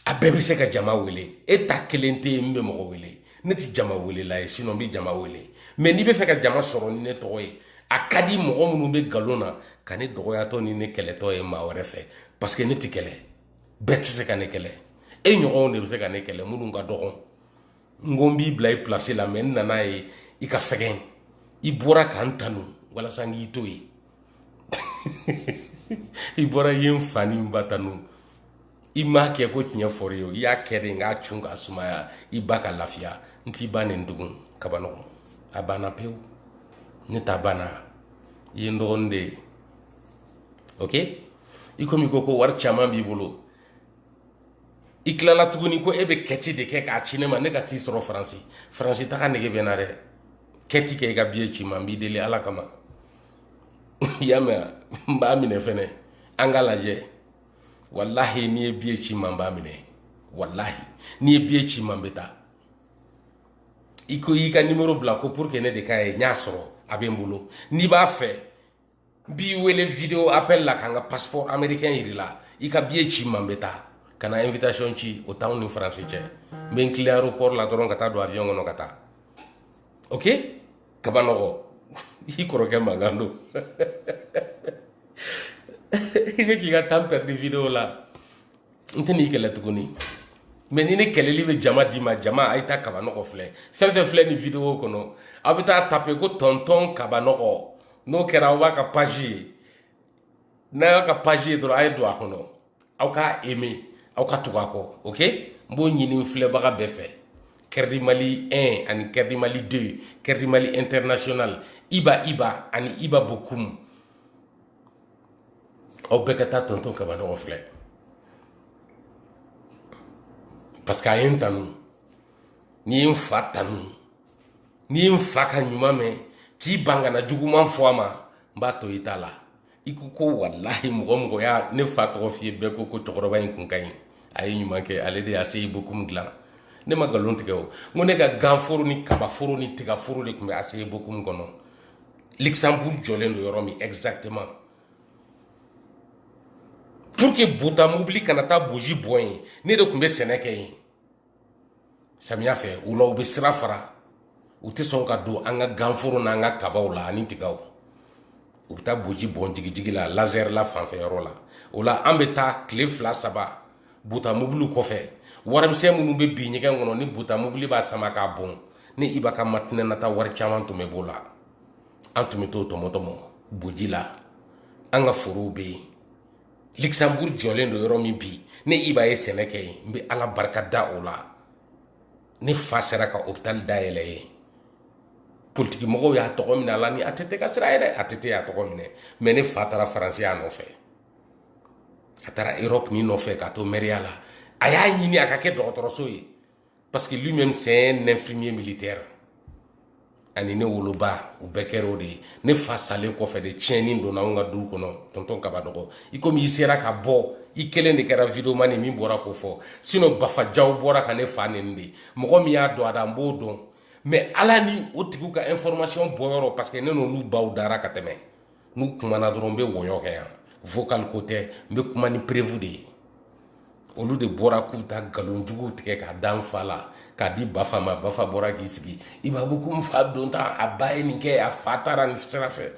a bɛɛ bɛ se ka jama wele e ta kelen tɛ yen min bɛ mɔgɔ wele ne tɛ jama welela ye sinɔn n bɛ jama wele mɛ n'i b'a fɛ ka jama sɔrɔ ni ne tɔgɔ ye a ka di mɔgɔ minnu bɛ nkalon na ka ne dɔgɔyatɔ ni ne kɛlɛtɔ ye maa wɛrɛ fɛ paseke ne tɛ kɛlɛ bɛɛ tɛ se ka ne kɛlɛ e ɲɔgɔnw de bɛ se ka ne kɛlɛ minnu ka dɔgɔn n ko n b'i bila i pilasi la mɛ n nana a ye i ka fɛgɛn i bɔra ka n tanu walasa n k'i to yen i bɔra i ye n fa ni n ba tanu i m'a kɛ ko tiɲɛ fɔr'i ye o i y'a kɛ de n k'a cun k'a sumaya i ba ka lafiya n t'i ba neni tugun kabanɔgɔ a banna pewu ne ta banna i ye n dɔgɔnin de ye ok i komi i ko ko wari caman b'i bolo i tilala tuguni ko e bɛ kɛti de kɛ k'a ci ne ma ne ka t'i sɔrɔ faransi faransi taga nege bɛ n na dɛ kɛti kɛ i ka biye ci n ma n b'i deli ala kama i y'a mɛn n b'a minɛ fɛnɛ an ka lajɛ walahi n'i ye biye ci n ma n b'a minɛ walahi n'i ye biye ci n ma n bɛ taa i ko i y'i ka nimoro bila ko pour que ne de k'a ye n y'a sɔrɔ a bɛ n bolo n'i b'a fɛ n b'i wele video appel la ka n ka passeport américain yir'i la i ka biye ci n ma n bɛ taa kana invitation ci o t'anw ni faransi cɛ n bɛ n kilen aéroport la dɔrɔn ka taa don avion kɔnɔ ka taa ok kaba nɔgɔ i kɔrɔkɛ mankan don i bɛ k'i ka temps perdu video la n tɛ n'i kɛlɛ tuguni mɛ ni ne kɛlɛli bɛ jama d'i ma jama a ye taa kaba nɔgɔ filɛ fɛn fɛn filɛ nin video kɔnɔ aw bɛ taa tape ko tɔntɔn kaba nɔgɔ n'o kɛra aw b'a ka page ye n'a y'a ka page ye dɔrɔn a ye don a kɔnɔ aw k'a aimé aw ka tugu a kɔ ok n b'o ɲini filɛbaga bɛɛ fɛ kɛrɛdi mali 1 ani kɛrɛdi mali 2 kɛrɛdi mali international iba iba ani iba bokum aw bɛɛ ka taa tɔntɔn kaba nɔgɔ filɛ parce que a ye n tanu n'i ye n fa tanu n'i ye n fa ka ɲuman mɛn k'i ban ka na juguman fɔ a ma n b'a to i ta la i ko ko walahi mɔgɔ o mɔgɔ ye ne fa tɔgɔ f'i ye bɛɛ ko ko cɛkɔrɔba in kun ka ɲi a ye ɲuman kɛ ale de ye aci bokumu dilan ne ma nkalon tigɛ o n ko ne ka ganforo ni kabaforo ni tigaforo de tun bɛ aci bokumu kɔnɔ luxembourg jɔlen don yɔrɔ min exactement pour que bota mobili kana taa boji bɔn yen ne de tun bɛ sɛnɛ kɛ yen samiya fɛ o la u bɛ sira fara u tɛ sɔn ka don an ka ganforo n'an ka kabaw la ani tigaw u bɛ taa boji bɔn jigijigi la lazarɛ la fanfɛ yɔrɔ la o la an bɛ taa tile fila saba buta mobili kɔfɛ warimisɛn minnu bɛ bin ɲɛgɛn kɔnɔ ni buta mobili b'a sama k'a bɔn ne iba ka matinɛ na taa wari caman tun bɛ b'o la an tun bɛ t'o tɔmɔtɔmɔ boji la an ka forow bɛ yen luxembourg jɔlen don yɔrɔ min bi ne iba ye sɛnɛ kɛ yen n bɛ ala barika da o la ne fa sera ka hôpital dayɛlɛ yen politiki mɔgɔw y'a tɔgɔ minɛ a la ni att ka sira ye dɛ att y'a tɔgɔ minɛ mɛ ne fa taara faransi a nɔfɛ a taara europe nin nɔfɛ ka to mɛriya la a y'a ɲini a ka kɛ dɔgɔtɔrɔso ye parce que lui même c'est un infirmier militaire ani ne woloba u bɛɛ kɛra o de ye ne fa salen kɔfɛ de tiɲɛni donna anw ka du kɔnɔ tɔntɔn kaba nɔgɔ i komi i sera ka bɔ i kelen de kɛra videomani min bɔra k'o fɔ sinɔ bafajaw bɔra ka ne fa neni de mɔgɔ min y'a don a da n b'o dɔn mɛ ala ni o tigiw ka information bɔ yɔrɔ parce que ne n'olu baw dara ka tɛmɛ n'u kumana dɔrɔn n bɛ wɔyɔ kɛ yan vocal ko tɛ n bɛ kuma ni preuve de ye olu de bɔra k'u ta nkalon juguw tigɛ k'a da n fa la k'a di bafa ma bafa bɔra k'i sigi i b'a ko n fa don ta a ba ye nin kɛ a fa taara nin sira fɛ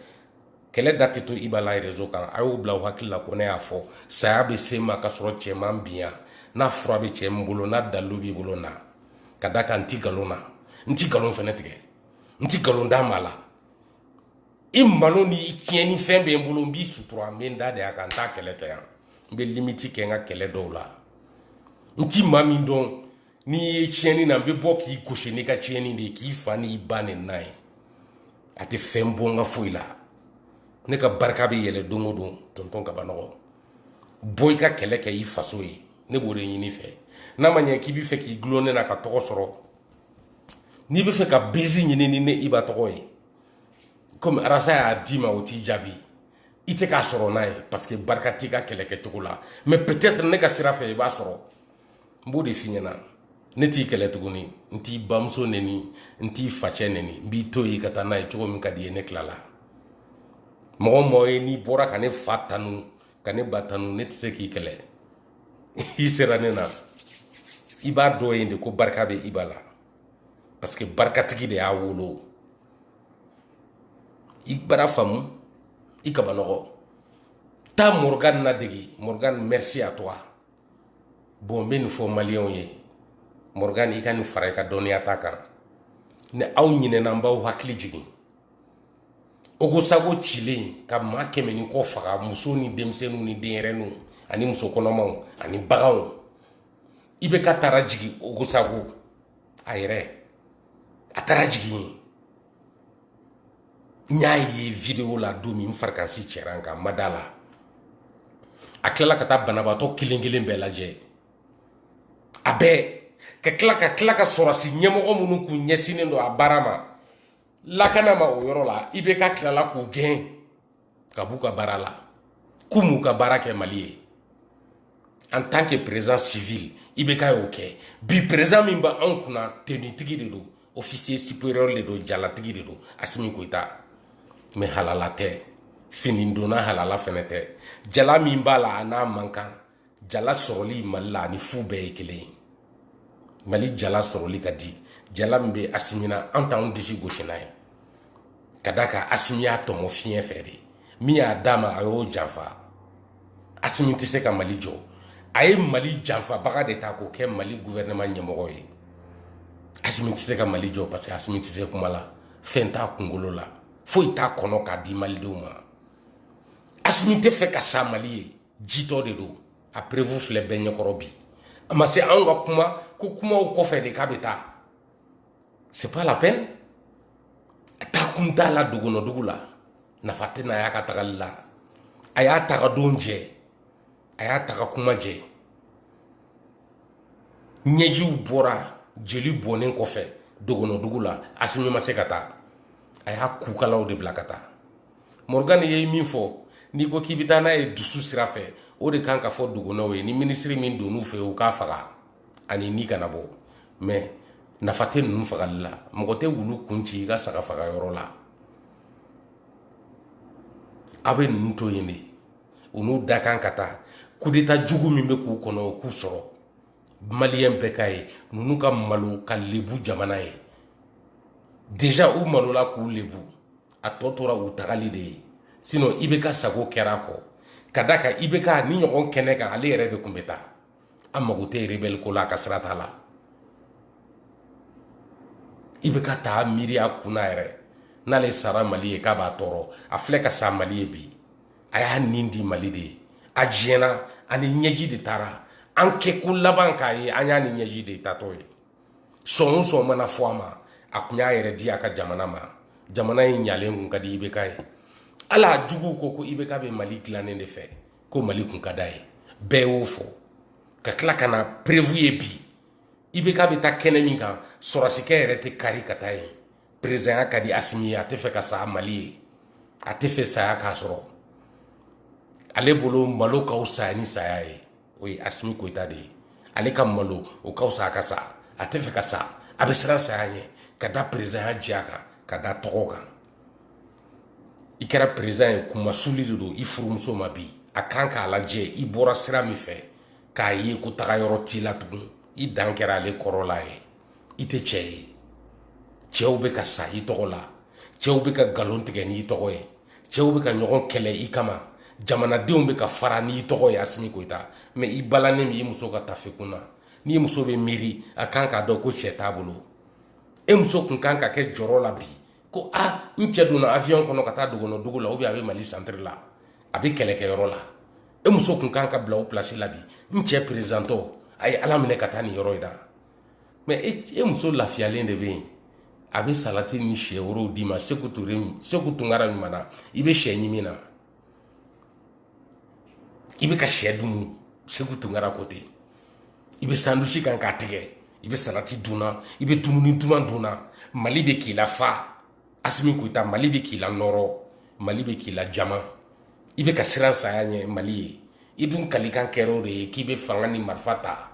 kɛlɛ da tɛ to iba la rezo kan a y'o bila aw hakili la ko ne y'a fɔ saya bɛ se n ma k'a sɔrɔ cɛ ma n bin yan n'a fura bɛ cɛ min bolo n'a dalilu b'i bolo na ka da kan n ti nkalon na n ti nkalon fɛnɛ tigɛ n ti nkalon da maa la i malo ni i tiɲɛni fɛn bɛ n bolo n b'i sutura n bɛ n da de a kan n t'a kelen fɔ yan n bɛ limiti kɛ n ka kɛlɛ dɔw la n ti maa min dɔn n'i ye tiɲɛni na n bɛ bɔ k'i gosi n'i ka tiɲɛni de ye k'i fa n'i ba neni a ye a tɛ fɛn bɔ n ka foyi la ne ka barika bɛ yɛlɛ don o don tɔntɔn kabanɔgɔ bɔ i ka kɛlɛ kɛ i faso ye ne b'o de ɲini i fɛ n'a ma ɲɛ k'i bɛ fɛ k'i gulon ne na ka tɔgɔ sɔrɔ n'i bɛ fɛ ka bezi ɲini ni ne iba tɔgɔ ye komi arasa y'a d'i ma o t'i jaabi i tɛ k'a sɔrɔ n'a ye parce que barika t'i ka kɛlɛ kɛcogo la mais peut être ne ka sira fɛ i b'a sɔrɔ n b'o de f'i ɲɛna ne t'i kɛlɛ tuguni n t'i bamuso neni n t'i facɛ neni n b'i to yen ka taa n'a ye cogo min ka d'i ye ne tilala mɔgɔ mɔgɔ ye n'i bɔra ka ne fa tanu ka ne ba tanu ne tɛ se k'i kɛlɛ i sera ne na i b'a dɔn yen de ko barika bɛ iba la parce que barikatigi de y'a wolo i bara faamu i kabanɔgɔ taa morgan nadegi morgan merci à toi bon n bɛ nin fɔ maliyɛnw ye morgan i ka nin fara i ka dɔnniya ta kan ni aw ɲinɛna n b'aw hakili jigin ogosago cilen ka maa kɛmɛ ni kɔ faga muso ni denmisɛnninw ni denyɛrɛninw ani muso kɔnɔmaw ani baganw ibɛka taara jigin ogosago a yɛrɛ a taara jigin yen n y'a ye videwo la don min n farikansi cɛra n kan n ma d'a la a tilala ka taa banabaatɔ kelen kelen bɛɛ lajɛ a bɛɛ ka tila ka tila ka sɔrɔsi ɲɛmɔgɔ minnu kun ɲɛsinnen don a baara ma lakana ma o yɔrɔ la ibɛka tilala k'o gɛn ka b'u ka baara la k'u m'u ka baara kɛ mali ye en tant que président civil ibɛka y'o kɛ bi président min bɛ anw kunna tenitigi de don officier supérieur de don jalatigi de don asimi goyita mais halala tɛ fini donna halala fɛnɛ tɛ jala min b'a la a n'a man kan jala sɔrɔli mali la ani fu bɛɛ ye kelen ye mali jala sɔrɔli ka di jala min bɛ asimi na an t'anw disi gosi n'a ye ka d'a kan asimi y'a tɔmɔ fiɲɛ fɛ de min y'a d'a ma a y'o janfa asimi tɛ se ka mali jɔ a ye mali janfabaga de ta k'o kɛ mali guvɛrɛnɛma ɲɛmɔgɔ ye asimi tɛ se ka mali jɔ parce que asimi tɛ se kuma la fɛn t'a kunkolo la foyi t'a kɔnɔ k'a di malidenw ma asimi tɛ fɛ ka sa mali ye jitɔ de don a prevu filɛ bɛɛ ɲɛkɔrɔ bi a ma se anw ka kuma ko kumaw kɔfɛ de k'a bɛ taa c'est pas la peine a taa kun t'a la dogonɔdugu la nafa tɛna y'a ka tagali la a y'a taga don jɛ a y'a taga kuma jɛ ɲɛjiw bɔra jeli bɔnnen kɔfɛ dogonɔdugu la asimi ma se ka taa a y'a kukalaw de bila ka taa morgan ye min fɔ n'i ko k'i bɛ taa n'a ye dusu sira fɛ o de kan ka fɔ dogonɔw ye ni minisiri min donn'u fɛ u k'a faga a ni ni kana bɔ mɛ nafa tɛ ninnu fagali la mɔgɔ tɛ wulu kun ci i ka saga faga yɔrɔ la a bɛ ninnu to yen de u n'u dakan ka taa kudeta jugu min bɛ k'u kɔnɔ o k'u sɔrɔ maliyɛn bɛɛ ka ye ninnu ka malo ka lebu jamana ye deja u malola k'u lebu a tɔ tora u tagali de ye sinɔn ibk sago kɛra kɔ ka d'a kan ibk nin ɲɔgɔn kɛnɛ kan ale yɛrɛ de kun bɛ taa a mago tɛ rebɛli ko la a ka sira t'a la ibk t'a miiri a kun na yɛrɛ n'ale sara mali ye k'a b'a tɔɔrɔ a filɛ ka sa mali ye bi a y'a nin di mali de ye a diɲɛna a ni ɲɛji de taara an kɛ ko laban k'a ye an y'a ni ɲɛji de taatɔ ye sɔn o sɔn mana fɔ a ma a kun y'a yɛrɛ di a ka jamana ma jamana in ɲalen kun ka di ibk ye hali a juguw ko ko ibk bɛ mali dilannen de fɛ ko mali kun ka d'a ye bɛɛ y'o fɔ ka tila ka na perevu ye bi ibk bɛ taa kɛnɛ min kan sɔrɔsikɛ yɛrɛ tɛ kari ka taa yen perezanya ka di asimi ye a tɛ fɛ ka sa mali ye a tɛ fɛ saya k'a sɔrɔ ale bolo malo ka fisa ni saya ye o ye asimi goyita de ye ale ka malo o ka fisa a ka sa a tɛ fɛ ka sa a bɛ siran saya ɲɛ ka da perezanya diya kan ka da tɔgɔ kan i kɛra perezan ye kunmasuli de don i furumuso ma bi a kan k'a lajɛ i bɔra sira min fɛ k'a ye ko taga yɔrɔ t'i la tugun i dan kɛra ale kɔrɔla ye i tɛ cɛ ye cɛw bɛ ka sa i tɔgɔ la cɛw bɛ ka nkalon tigɛ n'i tɔgɔ ye cɛw bɛ ka ɲɔgɔn kɛlɛ i kama jamanadenw bɛ ka fara n'i tɔgɔ ye asimi koyita mɛ i balannen b'i muso ka tafe kun na n'i muso bɛ miiri a kan k'a dɔn ko cɛ t'a bolo e muso kun kan ka kɛ jɔrɔ la bi ko ah, n cɛ donna awiyɔn kɔnɔ ka taa dogonɔ dugu la ou bien a bɛ mali santiri la a bɛ kɛlɛkɛyɔrɔ la e muso kun kan ka bila o pilasi la bi n cɛ perezidantɔ a ye ala minɛ ka taa nin yɔrɔ in na mɛ e muso lafiyalen de bɛ yen a bɛ salati ni sɛ worow d'i ma seku tunkara ɲuman na i bɛ sɛ ɲimi na i bɛ ka sɛ dun seku tunkara ko ten i bɛ sandusi kan k'a tigɛ i bɛ salati dun na i bɛ dumuni duman dun na mali bɛ k'i lafa asimi koyita mali bɛ k'i lanɔrɔ mali bɛ k'i lajama i bɛ ka siran saya ɲɛ mali ye i dun kalikan kɛra o de ye k'i bɛ fanga ni marifa ta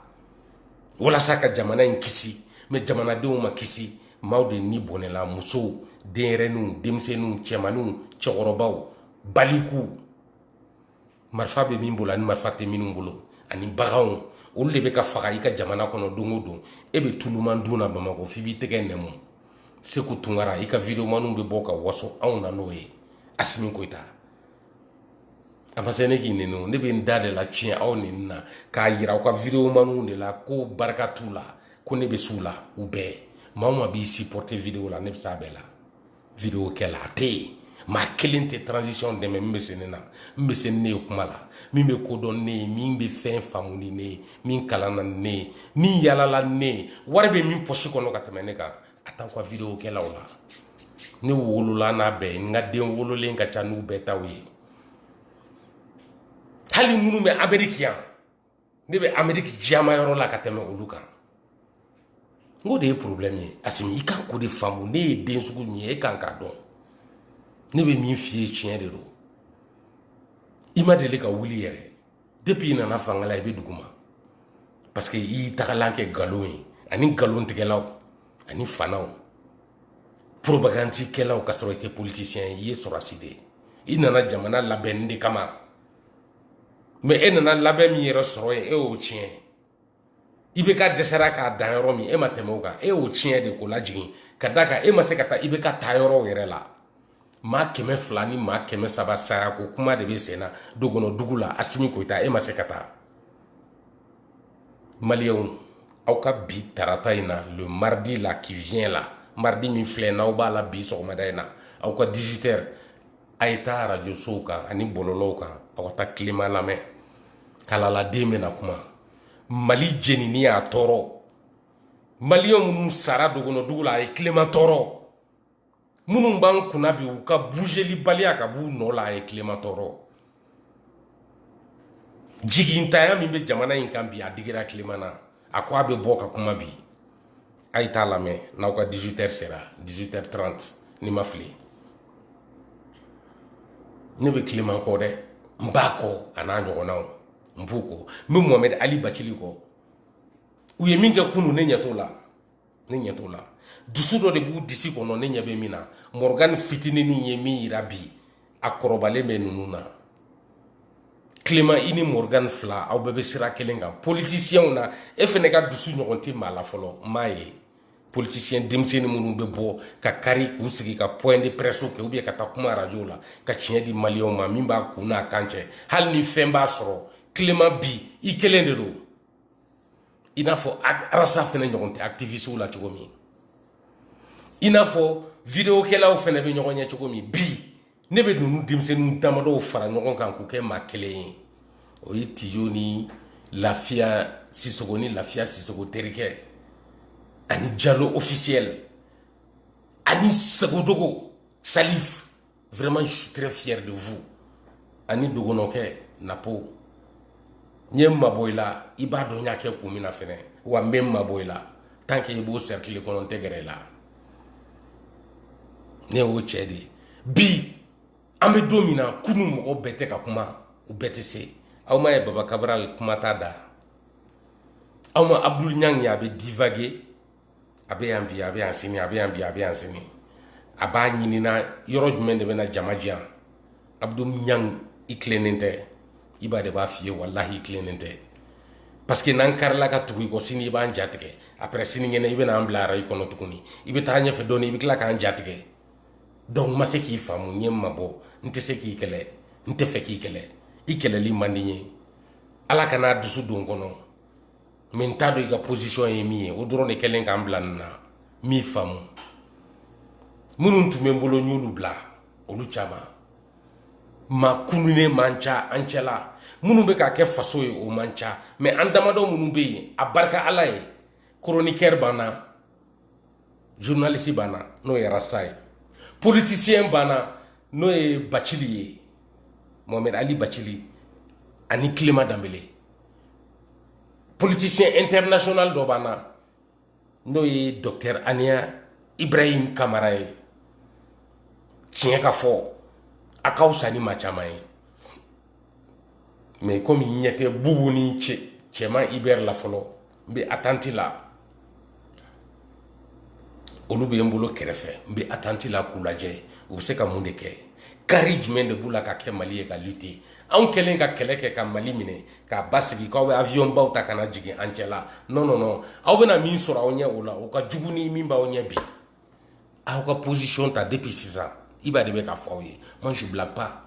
walasa ka jamana in kisi mɛ jamanadenw ma kisi maaw de ni bɔnɛla musow denyɛrɛninw denmisɛnninw cɛmaninw cɛkɔrɔbaw baliku marifa bɛ min bolo ani marifa tɛ minnu bolo ani baganw olu de bɛ ka faga i ka jamana kɔnɔ don o don e bɛ tuluman dun na bamakɔ f'i b'i tɛgɛ nɛmu seku tunkara i ka videomaniw bɛ bɔ ka waso anw na n'o ye asimi koyita a ma se ne k'i nɛni ne bɛ n da de latiɲɛ aw nɛni na k'a yira aw ka videomaniw de la ko barika t'u la ko ne bɛ s'u la u bɛɛ maa o maa b'i supporter video la ne bɛ s'a bɛɛ la video kɛla a tɛ yen maa kelen tɛ transition dɛmɛ min bɛ se ne na min bɛ se ne ye kuma la min bɛ ko dɔn ne ye min bɛ fɛn faamu ni ne ye min kalanna ne ye min yalala ne ye wari bɛ min pɔsi kɔnɔ ka tɛmɛ ne kan a t'aw ka video kɛlaw la ne wolola n'a bɛɛ ye n ka den wololen ka ca n'u bɛɛ taw ye hali minnu bɛ ameriki yan ne bɛ ameriki jiyama yɔrɔ la ka tɛmɛ olu kan n k'o de ye problème ye asimi i kan k'o de faamu ne ye den sugu min ye e kan k'a dɔn ne bɛ min f'i ye tiɲɛ de don i ma deli ka wuli yɛrɛ depuis i nana fanga la i bɛ duguma parce que i y'i tagalan kɛ nkalon ye ani nkalontigɛlaw ani fanaw propagandikɛlaw ka sɔrɔ i tɛ politicien i ye sɔrɔdasi de ye i nana jamana labɛnni de kama mɛ e nana labɛn min yɛrɛ sɔrɔ yen e y'o tiɲɛ IBK dɛsɛra ka dan yɔrɔ min e ma tɛmɛ o kan e y'o tiɲɛ de k'o lajigin ka d'a kan e ma se ka taa IBK taayɔrɔw yɛrɛ la maa kɛmɛ fila ni maa kɛmɛ saba saya ko kuma de bɛ sen na dogonɔ dugu la asimi koyita e ma se ka taa maliyɛnw aw ka bi tarata in na le mardi là qui vient là mardi min filɛ n'aw b'a la bi sɔgɔmada in na aw ka 18 heures a ye taa arajosow kan ani bɔlɔlɔw kan aw ka taa clément lamɛn kalaladen bɛna kuma mali jenini y'a tɔɔrɔ maliyɛn minnu sara dogono dugu la a ye clément tɔɔrɔ minnu b'an kunna bi u ka buzelibaliya ka b'u nɔ la a ye clément tɔɔrɔ jigintanya min bɛ jamana in kan bi a digira clément na a ko a bɛ bɔ ka kuma bi a ye t'a lamɛn n'aw ka 18 heures sera 18 heures 30 ni n ma fili ne bɛ clément kɔ dɛ n b'a kɔ a n'a ɲɔgɔnnaw n b'u kɔ n bɛ mohamɛdi ali bacili kɔ u ye min kɛ kunu ne ɲɛ t'o la ne ɲɛ t'o la dusu dɔ de b'u disi kɔnɔ ne ɲɛ bɛ min na mɔrɔgani fitinin ye min yira bi a kɔrɔbalen bɛ ninnu na clément i ni mɔrɔgani fila aw bɛɛ bɛ sira kelen kan politisiyɛnw na e fɛnɛ ka dusu ɲɔgɔn tɛ maa la fɔlɔ n m'a ye politisiyɛn denmisɛnnin minnu bɛ bɔ ka kari k'u sigi ka point de presse kɛ ou bien ka taa kuma arajow la ka tiɲɛ di maliyɛnw ma min b'a kun n'a kan cɛ hali ni fɛn b'a sɔrɔ clément bi i kelen de don i n'a fɔ arasa fɛnɛ ɲɔgɔn tɛ aktivisiw la cogo min i n'a fɔ videokɛlaw fɛnɛ bɛ ɲɔgɔn ɲɛ cogo min bi ne bɛ ninnu denmisɛnninw damadɔw fara ɲɔgɔn kan k'u kɛ maa kelen ye o ye tijo ni lafiya sisogo ni lafiya sisogo terikɛ ani jalo ofisiyɛli ani sagodogo salif vraiment je suis très fier de vous ani dogonɔkɛ napo n ye n mabɔ i la i b'a dɔn n y'a kɛ kun min na fɛnɛ wa n bɛ n mabɔ i la tant que i b'o cercle kɔnɔ n tɛ gɛrɛ i la ne y'o cɛ de ye bi an bɛ don min na kunu mɔgɔ bɛɛ tɛ ka kuma u bɛɛ tɛ se aw m'a ye baba kabral kuma t'a da aw ma abdul ɲang ye a bɛ divaguer a bɛ yan bi a bɛ yan sini a bɛ yan bi a bɛ yan sini a b'a ɲininna yɔrɔ jumɛn de bɛna jama diya abdul ɲang i tilennen tɛ i ba de b'a f'i ye walahi i tilennen tɛ parce que n'an karila ka tugu i kɔ sini i b'an jatigɛ après sinikɛnɛ i bɛna an bila arayi kɔnɔ tuguni i bɛ taa ɲɛfɛ dɔɔni i bɛ tila k'an jatigɛ donc n ma se k'i faamu n ye n mabɔ n tɛ se k'i kɛlɛ n tɛ fɛ k'i kɛlɛ i kɛlɛli man di n ye ala kan'a dusu don n kɔnɔ mɛ n t'a dɔn i ka posisiyɔn ye min ye o dɔrɔn de kɛlen k'an bila nin na n m'i faamu minnu tun bɛ n bolo n y'olu bila olu caman maa kununen man ca an cɛla minnu bɛ k'a kɛ faso ye o man ca mɛ an damadɔ minnu bɛ yen a barika ala ye koronikɛri b'an na journaliste banna n'o ye rasta ye politicien banna n'o ye bacili ye mohamed ali bacili ani clément danbele politicien international dɔ banna n'o ye docteur aniya ibrahim kamara ye tiɲɛ ka fɔ a ka fisa ni maa caman ye mais comme ɲɛ tɛ bubu ni cɛman hubert la fɔlɔ n bɛ attente la olu bɛ n bolo kɛrɛfɛ n bɛ attente la k'u lajɛ u bɛ se ka mun de kɛ kari jumɛn de b'u la ka kɛ mali ye ka lutter anw kɛlen ka kɛlɛ kɛ ka mali minɛ k'a basigi k'aw bɛ avion baw ta ka na jigin an cɛ la non non non aw bɛna min sɔrɔ aw ɲɛ o la o ka jugu ni min b'aw ɲɛ bi aw ka position ta depuis sisan iba de bɛ k'a fɔ aw ye moi je blague pas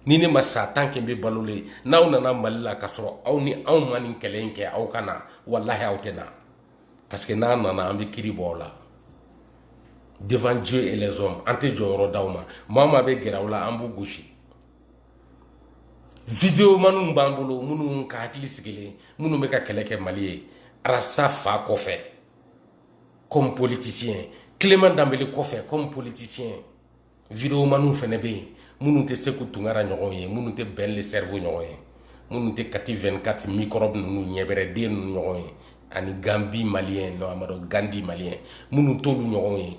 ni ne ma sa tant que n bɛ balolen n'aw nana mali la ka sɔrɔ aw ni anw ma nin kɛlɛ in kɛ aw ka na walahi aw tɛ na parce que n'a nana an bɛ kiri bɔ aw la devant dieu et les hommes an tɛ jɔyɔrɔ d'aw ma maa o maa bɛ gɛrɛ aw la an b'u gosi videomaniw b'an bolo minnu ka hakili sigilen minnu bɛ ka kɛlɛ kɛ mali ye rasta fa kɔfɛ comme politicien clément danbele kɔfɛ comme politicien videomaniw fɛnɛ bɛ yen minnu tɛ seku tunkara ɲɔgɔn ye minnu tɛ ben le cerveau ɲɔgɔn ye minnu tɛ kati 24 microbe ninnu ɲɛbɛrɛden ninnu ɲɔgɔn ye ani gambi malien non amadu gandi malien minnu t'olu ɲɔgɔn ye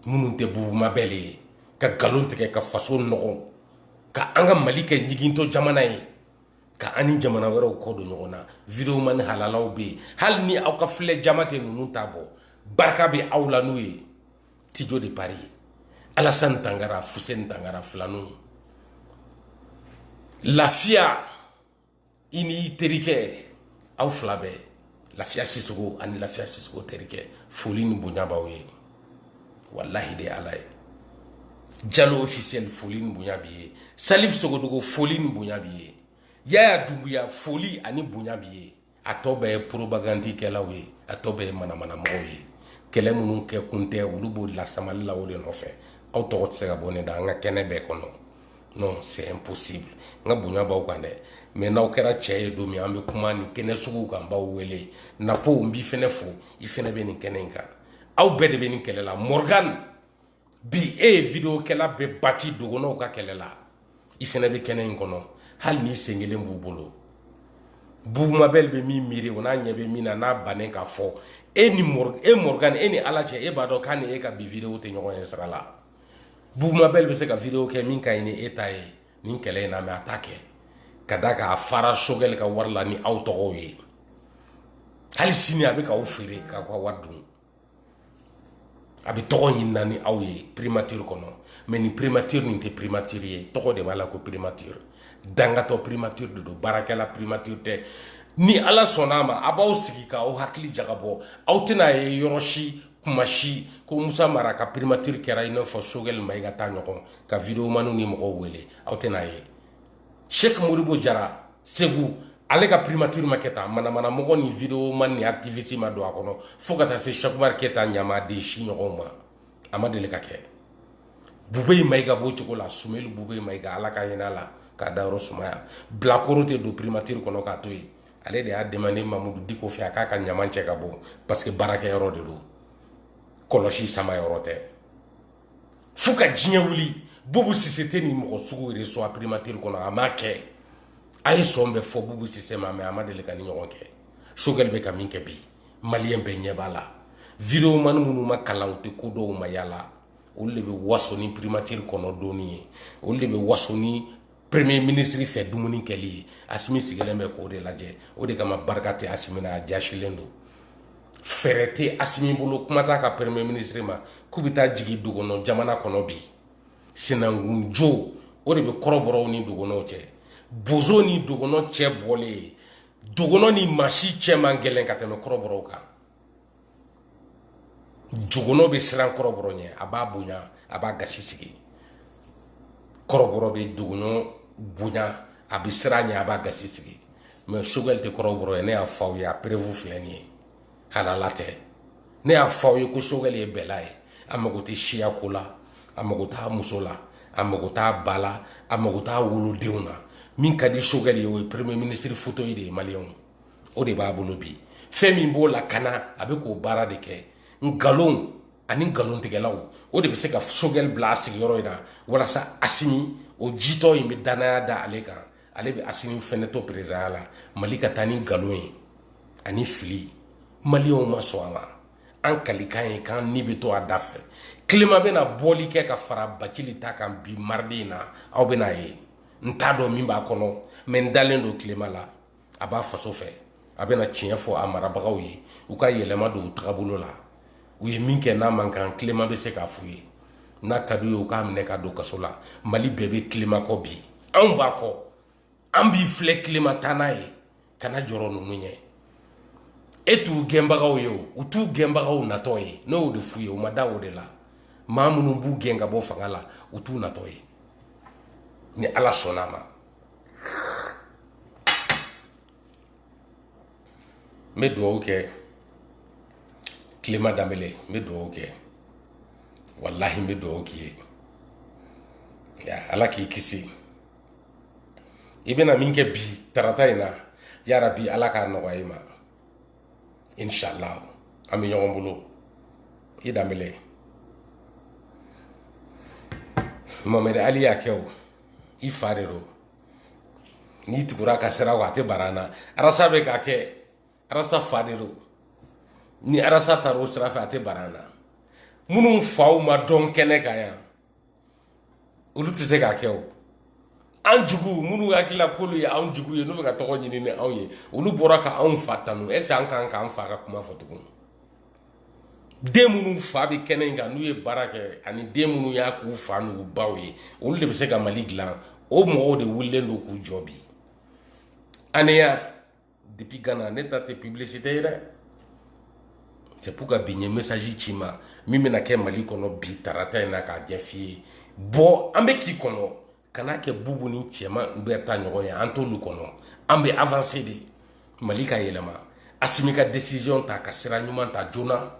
minnu tɛ bubu mabɛli ye ka nkalon tigɛ ka faso nɔgɔ ka an ka mali kɛ ɲigintɔ jamana ye ka an ni jamana wɛrɛw kɔ don ɲɔgɔn na videomani halalaw bɛ yen hali ni aw ka filɛ jama tɛ ninnu ta bɔ barika bɛ aw la n'u ye tijo de paris alasan tangara fuseni tangara filaninw lafiya i n'i terikɛ aw fila bɛɛ lafiya sisogo ani lafiya sisogo terikɛ foli ni bonya b'aw ye walahi de alaye jalo officiel foli ni bonya b'i ye salif sogodogo foli ni bonya b'i ye yaya dumbuya foli ani bonya b'i ye a tɔ bɛɛ ye propagandikɛlaw ye a tɔ bɛɛ ye manamanamɔgɔw ye kɛlɛ minnu kɛ kun tɛ olu b'o lasamali la o de nɔfɛ aw tɔgɔ tɛ se ka bɔ ne da an ka kɛnɛ bɛɛ kɔnɔ non c'est impossible n ka bonya b'aw kan dɛ mais n'aw kɛra cɛ ye don min an bɛ kuma nin kɛnɛ suguw kan b'aw wele napo n b'i fɛnɛ fo i fɛnɛ bɛ nin kɛnɛ in kan aw bɛɛ de bɛ nin kɛlɛ la morgan bi e ye video kɛla bɛɛ bati dogɔnɔw ka kɛlɛ la i fɛnɛ bɛ kɛnɛ in kɔnɔ hali n'i sen kelen b'u bolo bubu mabɛli bɛ min miiri o n'a ɲɛ bɛ min na n'a bannen ka fɔ e ni e morgan e ni ala cɛ e b'a dɔn k'a ni e ka bi video tɛ ɲɔgɔn ye sira la bubu mabɛli bɛ se ka video kɛ min ka ɲi ni e ta ye nin kɛlɛ in na mais a t'a kɛ ka da k'a fara sogɛli ka wari la ni aw tɔgɔw ye hali sini a bɛ k'aw feere k'aw ka wari dun a bɛ tɔgɔ ɲini na ni aw ye primature kɔnɔ mais ni primature nin tɛ primature ye tɔgɔ de b'a la ko primature dangatɔ primature de don baarakɛla primature tɛ ni ala sɔnna a ma a b'aw sigi k'aw hakili jagabɔ aw tɛn'a ye yɔrɔ si kuma si ko musa mara ka primature kɛra i n'a fɔ sogɛli mayiga ta ɲɔgɔn ka videomaniw ni mɔgɔw wele aw tɛn'a ye sheikh modibo jara segu ale ka primature ma kɛ tan manamana mɔgɔ ni videoman ni activiste ma don a kɔnɔ fo ka taa se sheikh umar keyita ɲamaden si ɲɔgɔnw ma a ma deli ka kɛ bube mayiga b'o cogo la sumeli bube mayiga ala ka hin'a la k'a dayɔrɔ sumaya bilakoro tɛ don primature kɔnɔ k'a to yen ale de y'a demandé mamudu diko fɛ a k'a ka ɲaman cɛ ka bɔ parce que baarakɛ yɔrɔ de don kɔlɔsi sama yɔrɔ tɛ fo ka diɲɛ wuli bubu sise tɛ nin mɔgɔ sugu reçoit primature kɔnɔ a m'a kɛ a ye sɔn bɛ fɔ bubu sise ma mais a ma deli ka nin ɲɔgɔn kɛ sogɛli bɛ ka min kɛ bi maliyɛn bɛɛ ɲɛ b'a la videomani minnu ma kalan u tɛ ko dɔn u ma yaala olu de bɛ waso ni primature kɔnɔ donni ye olu de bɛ waso ni premier ministre fɛ dumuni kɛli ye asimi sigilen bɛ k'o de lajɛ o de kama barika tɛ asimi na a jasilen don fɛɛrɛ tɛ asimi bolo kuma t'a ka premier ministre ma k'u bɛ taa jigin dogonɔ jamana kɔnɔ bi sinankunjo o de bɛ kɔrɔbɔrɔw ni dogonɔw cɛ bozo ni dogonɔ cɛ bɔlen yen dogonɔ ni maa si cɛ man gɛlɛn ka tɛmɛ kɔrɔbɔrɔw kan dogonɔ bɛ siran kɔrɔbɔrɔ ɲɛ a b'a bonya a b'a gasi sigi kɔrɔbɔrɔ bɛ dogonɔ bonya a bɛ siran a ɲɛ a b'a gasi sigi mais sogɛli tɛ kɔrɔbɔrɔ ye ne y'a fɔ aw ye a preuve filɛ nin ye halala tɛ ne y'a fɔ aw ye ko sogɛli ye bɛla ye a mago tɛ siya ko la a mago t'a muso la a mago t'a ba la a mago t'a wolodenw na min ka di sogɛli ye o ye premier ministre fauteuil de ye maliyɛnw o de b'a bolo bi fɛn min b'o lakana a bɛ k'o baara de kɛ nkalon ani nkalontigɛlaw o de bɛ se ka sogɛli bila a sigiyɔrɔ in na walasa asimi o jitɔ in bɛ dannaya da ale kan ale bɛ asimi fɛnɛ to peresidanya la mali ka taa ni nkalon ye ani fili maliyɛnw ma sɔn a ma an kalikan ye k'an ni bɛ to a da fɛ kileman bɛna bɔli kɛ ka fara bacili ta kan bi mardi in na aw bɛn'a ye n t'a dɔn min b'a kɔnɔ mais n dalen don kileman la a b'a faso fɛ a bɛna tiɲɛ fɔ a marabagaw ye u ka yɛlɛma don u tagabolo la u ye min kɛ n'a man kan kilema bɛ se k'a f'u ye n'a ka d'u ye u k'a minɛ ka don kaso la mali bɛɛ bɛ kilema kɔ bi anw b'a kɔ an b'i filɛ kilema taa n'a ye kana jɔrɔ ninnu ɲɛ e t'u gɛnbagaw ye o u t'u gɛnbagaw natɔ ye ne y'o de f'u ye u ma da o de la maa minnu b'u gɛn ka bɔ fanga la u t'u natɔ ye ni ala sɔnna a ma n bɛ dugawu kɛ kilema danbele n bɛ dugawu kɛ walahi n bɛ dugawu k'i ye ala k'i kisi i bɛna min kɛ bi tarata in na yarabi ala k'a nɔgɔya i ma inshallah an bɛ ɲɔgɔn bolo i danbele mohamed ali y'a kɛ o i fa de don n'i tugur'a ka sira kɔ a tɛ bara na arasa bɛ k'a kɛ arasa fa de don ni arasa taara o sira fɛ a tɛ bara na minnu faw ma dɔn kɛnɛ kan yan olu tɛ se k'a kɛ o an jugu minnu hakilila k'olu ye anw jugu ye n'u bɛ ka tɔgɔ ɲini ni anw ye olu bɔra ka anw fa tanu ɛseke an kan k'an fa ka kuma fɔ tuguni den minnu fa bɛ kɛnɛ in kan n'u ye baara kɛ ani den minnu y'a k'u fa n'u baw ye olu de bɛ se ka mali dilan o mɔgɔw de wulilen don k'u jɔ bi aneya depuis gana ne ta tɛ publicité ye dɛ c'est pourquoi bi n ye message c'i ma min bɛna kɛ mali kɔnɔ bi tarata in na k'a ɲɛf'i ye bɔ an bɛ k'i kɔnɔ kana kɛ bubu ni cɛman hubert ta ɲɔgɔn ye an t'olu kɔnɔ an bɛ avanse de mali ka yɛlɛma asimi ka desiziyɔn ta ka sira ɲuman ta joona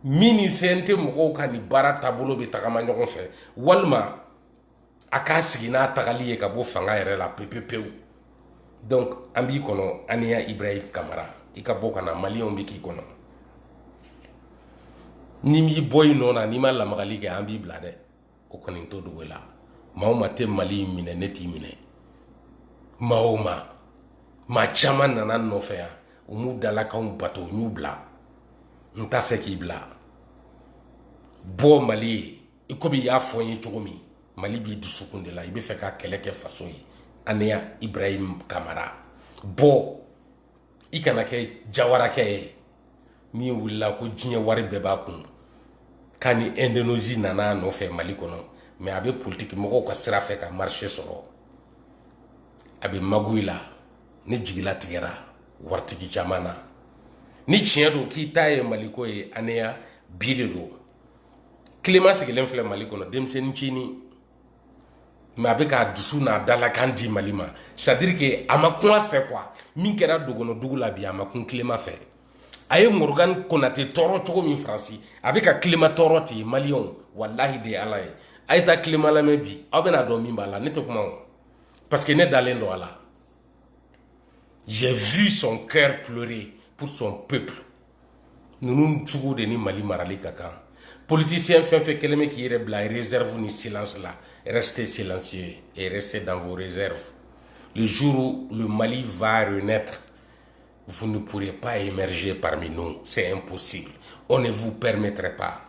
min ni cnt mɔgɔw ka nin baara taabolo bɛ tagama ɲɔgɔn fɛ walima a k'a sigi n'a tagali ye ka bɔ fanga yɛrɛ la pepepewu donc an b'i kɔnɔ aniya ibrahim kamara i ka bɔ ka na maliyɛnw bɛ k'i kɔnɔ n'i m'i bɔ i nɔ na n'i ma lamagali kɛ an b'i bila dɛ o kɔni to dugu la maa o maa tɛ mali in minɛ ne t'i minɛ maa o ma maa caman nana nɔfɛ yan u m'u dalakanw bato n y'u bila n t'a fɛ k'i bila bɔ mali ye i komi i y'a fɔ n ye cogo min mali b'i dusukun de la i b'a fɛ ka kɛlɛ kɛ faso ye aneya ibrahim kamara bɔ i kana kɛ jawarakɛ ye min wulila ko diɲɛ wari bɛɛ b'a kun k'a ni indonésie nana a nɔfɛ mali kɔnɔ mɛ a bɛ politiki mɔgɔw ka sira fɛ ka marché sɔrɔ a bɛ magouille la ne jigi latigɛra waritigi caman na ni tiɲɛ don k'i ta ye maliko ye aneya bi de don kilema sigilen filɛ mali kɔnɔ denmisɛnnin cini mɛ a bɛ k'a dusu n'a dalakan di mali ma c'est-à-dire que a ma kun a fɛ kuwa min kɛra dogɔnɔ dugu la bi a ma kun tilema fɛ a ye morgan konate tɔɔrɔ cogo min faransi a bɛ ka tilema tɔɔrɔ ten maliyɛnw walahi de ala ye a ye taa tilema lamɛn bi aw bɛna a dɔn min b'a la ne tɛ kuma o parce que ne dalen don a la j'ai vu son cœur pleurer pour son peuple ninnu cogo de ni mali marali ka kan politisiyɛn fɛn fɛn kɛlen bɛ k'i yɛrɛ bila réserve ni silence la restez silencieux et restez dans vos réserves le jour où le mali va renaître vous ne pourrez pas émerger parmi nous c'est impossible on ne vous permettrait pas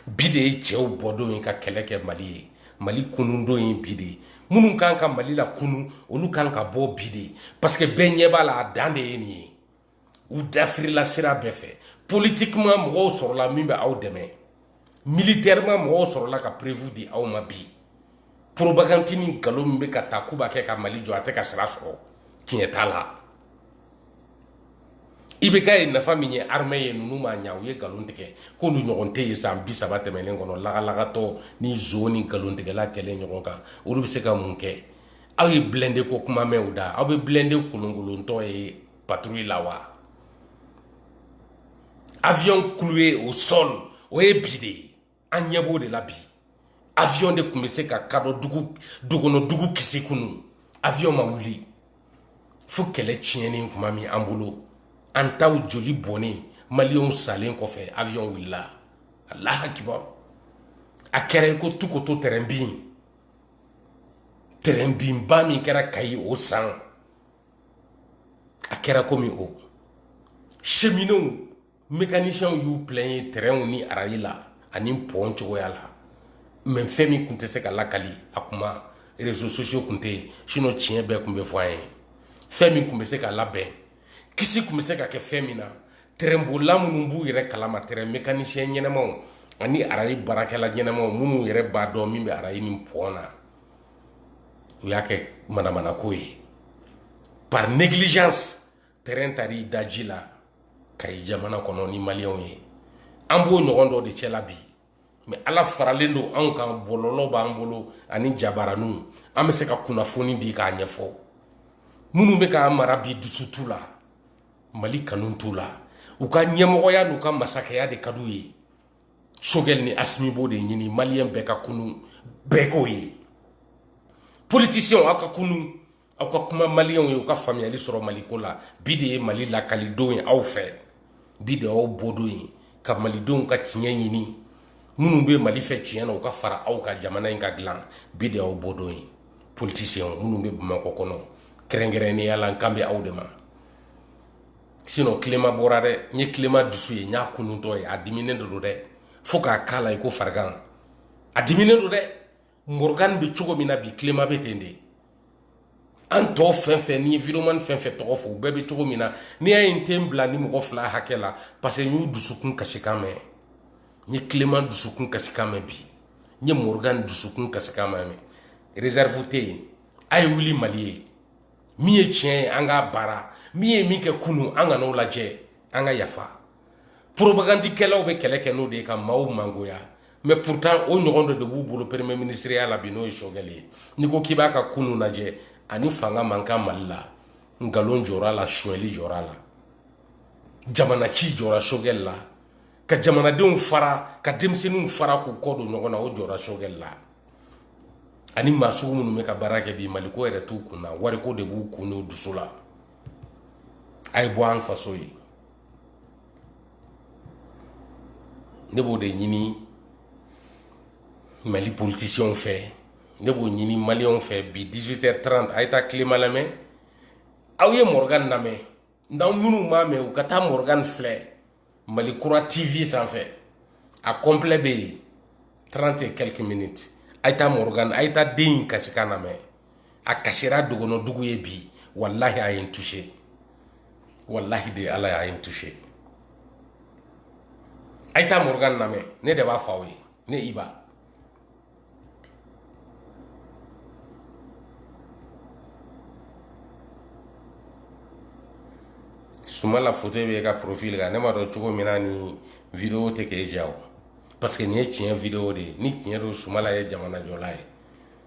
bi de ye cɛw bɔdon ye ka kɛlɛ kɛ mali ye mali kunundon ye bi de ye minnu kan ka mali lakunu olu kan ka bɔ bi de parce que bɛɛ ɲɛ b'a la a dan de ye nin ye u dafirila sira bɛɛ fɛ politiquement mɔgɔw sɔrɔla min bɛ aw dɛmɛ militairement mɔgɔw sɔrɔla ka preuve di aw ma bi propagande ni nkalon min bɛ ka taa k'u b'a kɛ ka mali jɔ a tɛ ka sira sɔrɔ tiɲɛ t'a la i bɛ k'a ye nafa min ye armɛ ye ninnu ma ɲa u ye nkalon tigɛ k'olu ɲɔgɔn tɛ ye san bi saba tɛmɛnen kɔnɔ lagalagatɔ ni nson ni nkalontigɛla kɛlen ɲɔgɔn kan olu bɛ se ka mun kɛ aw ye blindé ko kuma mɛn u da aw bɛ blindé kolonkolontɔ ye patrouille la wa avion cloué au sol o ye bi de ye an ɲɛ b'o de la bi avion de tun bɛ se ka kadɔ dugu dogɔnɔ dugu kisi kunu avion ma wuli fo kɛlɛ tiɲɛnen tuma min an bolo an taw joli bɔnnen maliyɛnw salen kɔfɛ avion wulila alahu akibaru a kɛra i ko tukoto tɛrɛn bin tɛrɛnbinba min kɛra kayi o san a kɛra komi o seminow mekanisiyɛnw y'u pilɛɲe tɛrɛnw ni arayi la ani pɔn cogoya la mɛ fɛn min tun tɛ se ka lakali a kuma rezo sosiyo tun tɛ yen sinɔ tiɲɛ bɛɛ tun bɛ fɔ an ye fɛn min tun bɛ se ka labɛn kisi tun bɛ se ka kɛ fɛn min na tɛrɛnbolila minnu b'u yɛrɛ kalama tɛrɛn mekanisiyɛn ɲɛnamaw ani arayi baarakɛla ɲɛnamaw minnu yɛrɛ b'a dɔn min bɛ arayi ni pɔn na u y'a kɛ manamanako ye par négligence tɛrɛn taar'i da ji la kayi jamana kɔnɔ ni maliyɛnw ye an b'o ɲɔgɔn dɔ de cɛla bi mɛ ala faralen don anw kan bɔlɔlɔ b'an bolo ani jabaraniw an bɛ se ka kunnafoni di k'a ɲɛfɔ minnu bɛ k'an mara bi dusu t'u la mali kanu t'u la u ka ɲɛmɔgɔya n'u ka masakɛya de ka d'u ye sogɛli ni asimi b'o de ɲini maliyɛn bɛɛ ka kunun bɛɛ k'o ye politisiyɛnw aw ka kunun aw ka kuma maliyɛnw ye u ka faamuyali sɔrɔ maliko la bi de ye mali lakalidon ye aw fɛ bi de y'aw bɔdon ye ka malidenw ka tiɲɛ ɲini minnu bɛ mali fɛ tiɲɛ na u ka fara aw kan jamana in ka dilan bi de y'aw bɔdon ye politisiyɛnw minnu bɛ bamakɔ kɔnɔ kɛrɛnkɛrɛnnenya la n kan bɛ aw de ma sinɔn clément bɔra dɛ n ye clément dusu ye n y'a kununtɔ ye a diminen de don dɛ fo k'a k'a la i ko farigan a diminen don dɛ morgan bɛ cogo min na bi clément bɛ ten de an tɔ fɛn fɛn ni videomani fɛn fɛn tɔgɔ fɔ u bɛɛ bɛ cogo min na n'i y'a ye n tɛ n bila nin mɔgɔ fila hakɛ la parce que n y'u dusukun kasikan mɛn n ye clément dusukun kasikan mɛn bi n ye morgan dusukun kasikan mɛn réserve tɛ yen a ye wuli mali ye min ye tiɲɛ ye an k'a baara min ye min kɛ kunu an kan'o lajɛ an ka yafa poropagandikɛlaw bɛ kɛlɛ kɛ n'o de ye ka maaw mangoya mais pourtant o ɲɔgɔn dɔ de b'u bolo premier ministreya la bi n'o ye sogɛli ye n'i ko k'i b'a ka kunu lajɛ a ni fanga man kan mali la nkalon jɔr'a la suɲɛli jɔr'a la jamanaci jɔra sogɛli la ka jamanadenw fara ka denmisɛnninw fara k'u kɔ don ɲɔgɔn na o jɔra sogɛli la ani maa sugu minnu bɛ ka baara kɛ bi maliko yɛrɛ t'u kun na wariko de b'u kun n'u dusu la a ye bɔ an faso ye ne b'o de ɲini mali politisiyɛnw fɛ ne b'o ɲini maliyɛnw fɛ bi 18 h 30 a ye taa clément lamɛn aw ye morgan lamɛn n'aw minnu m'a mɛn u ka taa morgan filɛ mali kura tv sanfɛ a kɔnplɛ bɛ yen 30 et quelques minutes a ye taa morgan a ye taa den in kasikan lamɛn a kasira dogɔnɔ dugu ye bi wallahi a ye n touché wallahi de ala y'a ye n touché a ye taa morgan lamɛn ne de b'a fɔ aw ye ne iba sumala foto b'i ka profil kan ne m'a dɔn cogo min na ni video tɛ k'e ja o parce que nin ye tiɲɛ video de ye ni tiɲɛ don sumala ye jamanajɔla ye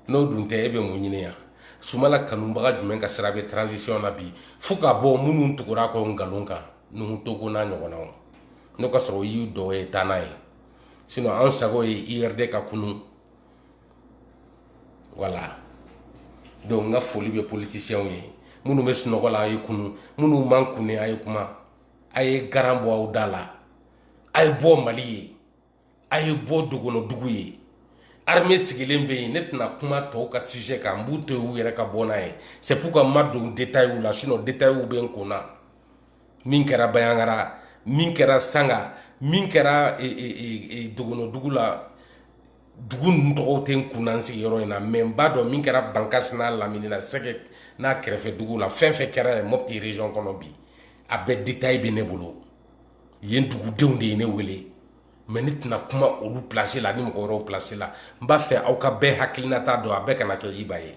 n'o dun tɛ e bɛ mun ɲini yan sumala kanubaga jumɛn ka sira bɛ transition na bi fo ka bɔ minnu tugur'a kɔ nkalon kan nuhu togo n'a ɲɔgɔnnaw n'o ka sɔrɔ i y'u dɔ ye taa n'a ye sinɔn an sago ye urd ka kunun voilà donc n ka foli bɛ politisiyɛnw ye minnu bɛ sunɔgɔ la a ye kunun minnu mana kunun a ye kuma a ye garan bɔ aw da la a ye bɔ mali ye a ye bɔ dogɔnɔ dugu ye armée sigilen bɛ yen ne tɛna kuma tɔw ka sujet kan n b'u to yen u yɛrɛ ka bɔ n'a ye c'est pourquoi n ma don détail la sinon détail bɛ n kun na min kɛra bayankara min kɛra sanga min kɛra e, e, e, dogono dugu la dugu ninnu tɔgɔw tɛ n kun na n sigiyɔrɔ in na mɛ n b'a dɔn min kɛra bankasi n'a lamini na sɛgɛ n'a kɛrɛfɛ dugu la fɛn fɛn kɛra yen mɔpiti region kɔnɔ bi a bɛɛ detaye bɛ ne bolo yen dugudenw de ye ne wele mɛ ne tɛna kuma olu pilasi la ni mɔgɔ wɛrɛw pilasi la n b'a fɛ aw ka bɛɛ hakilinata dɔn a bɛɛ kana kɛ iba ye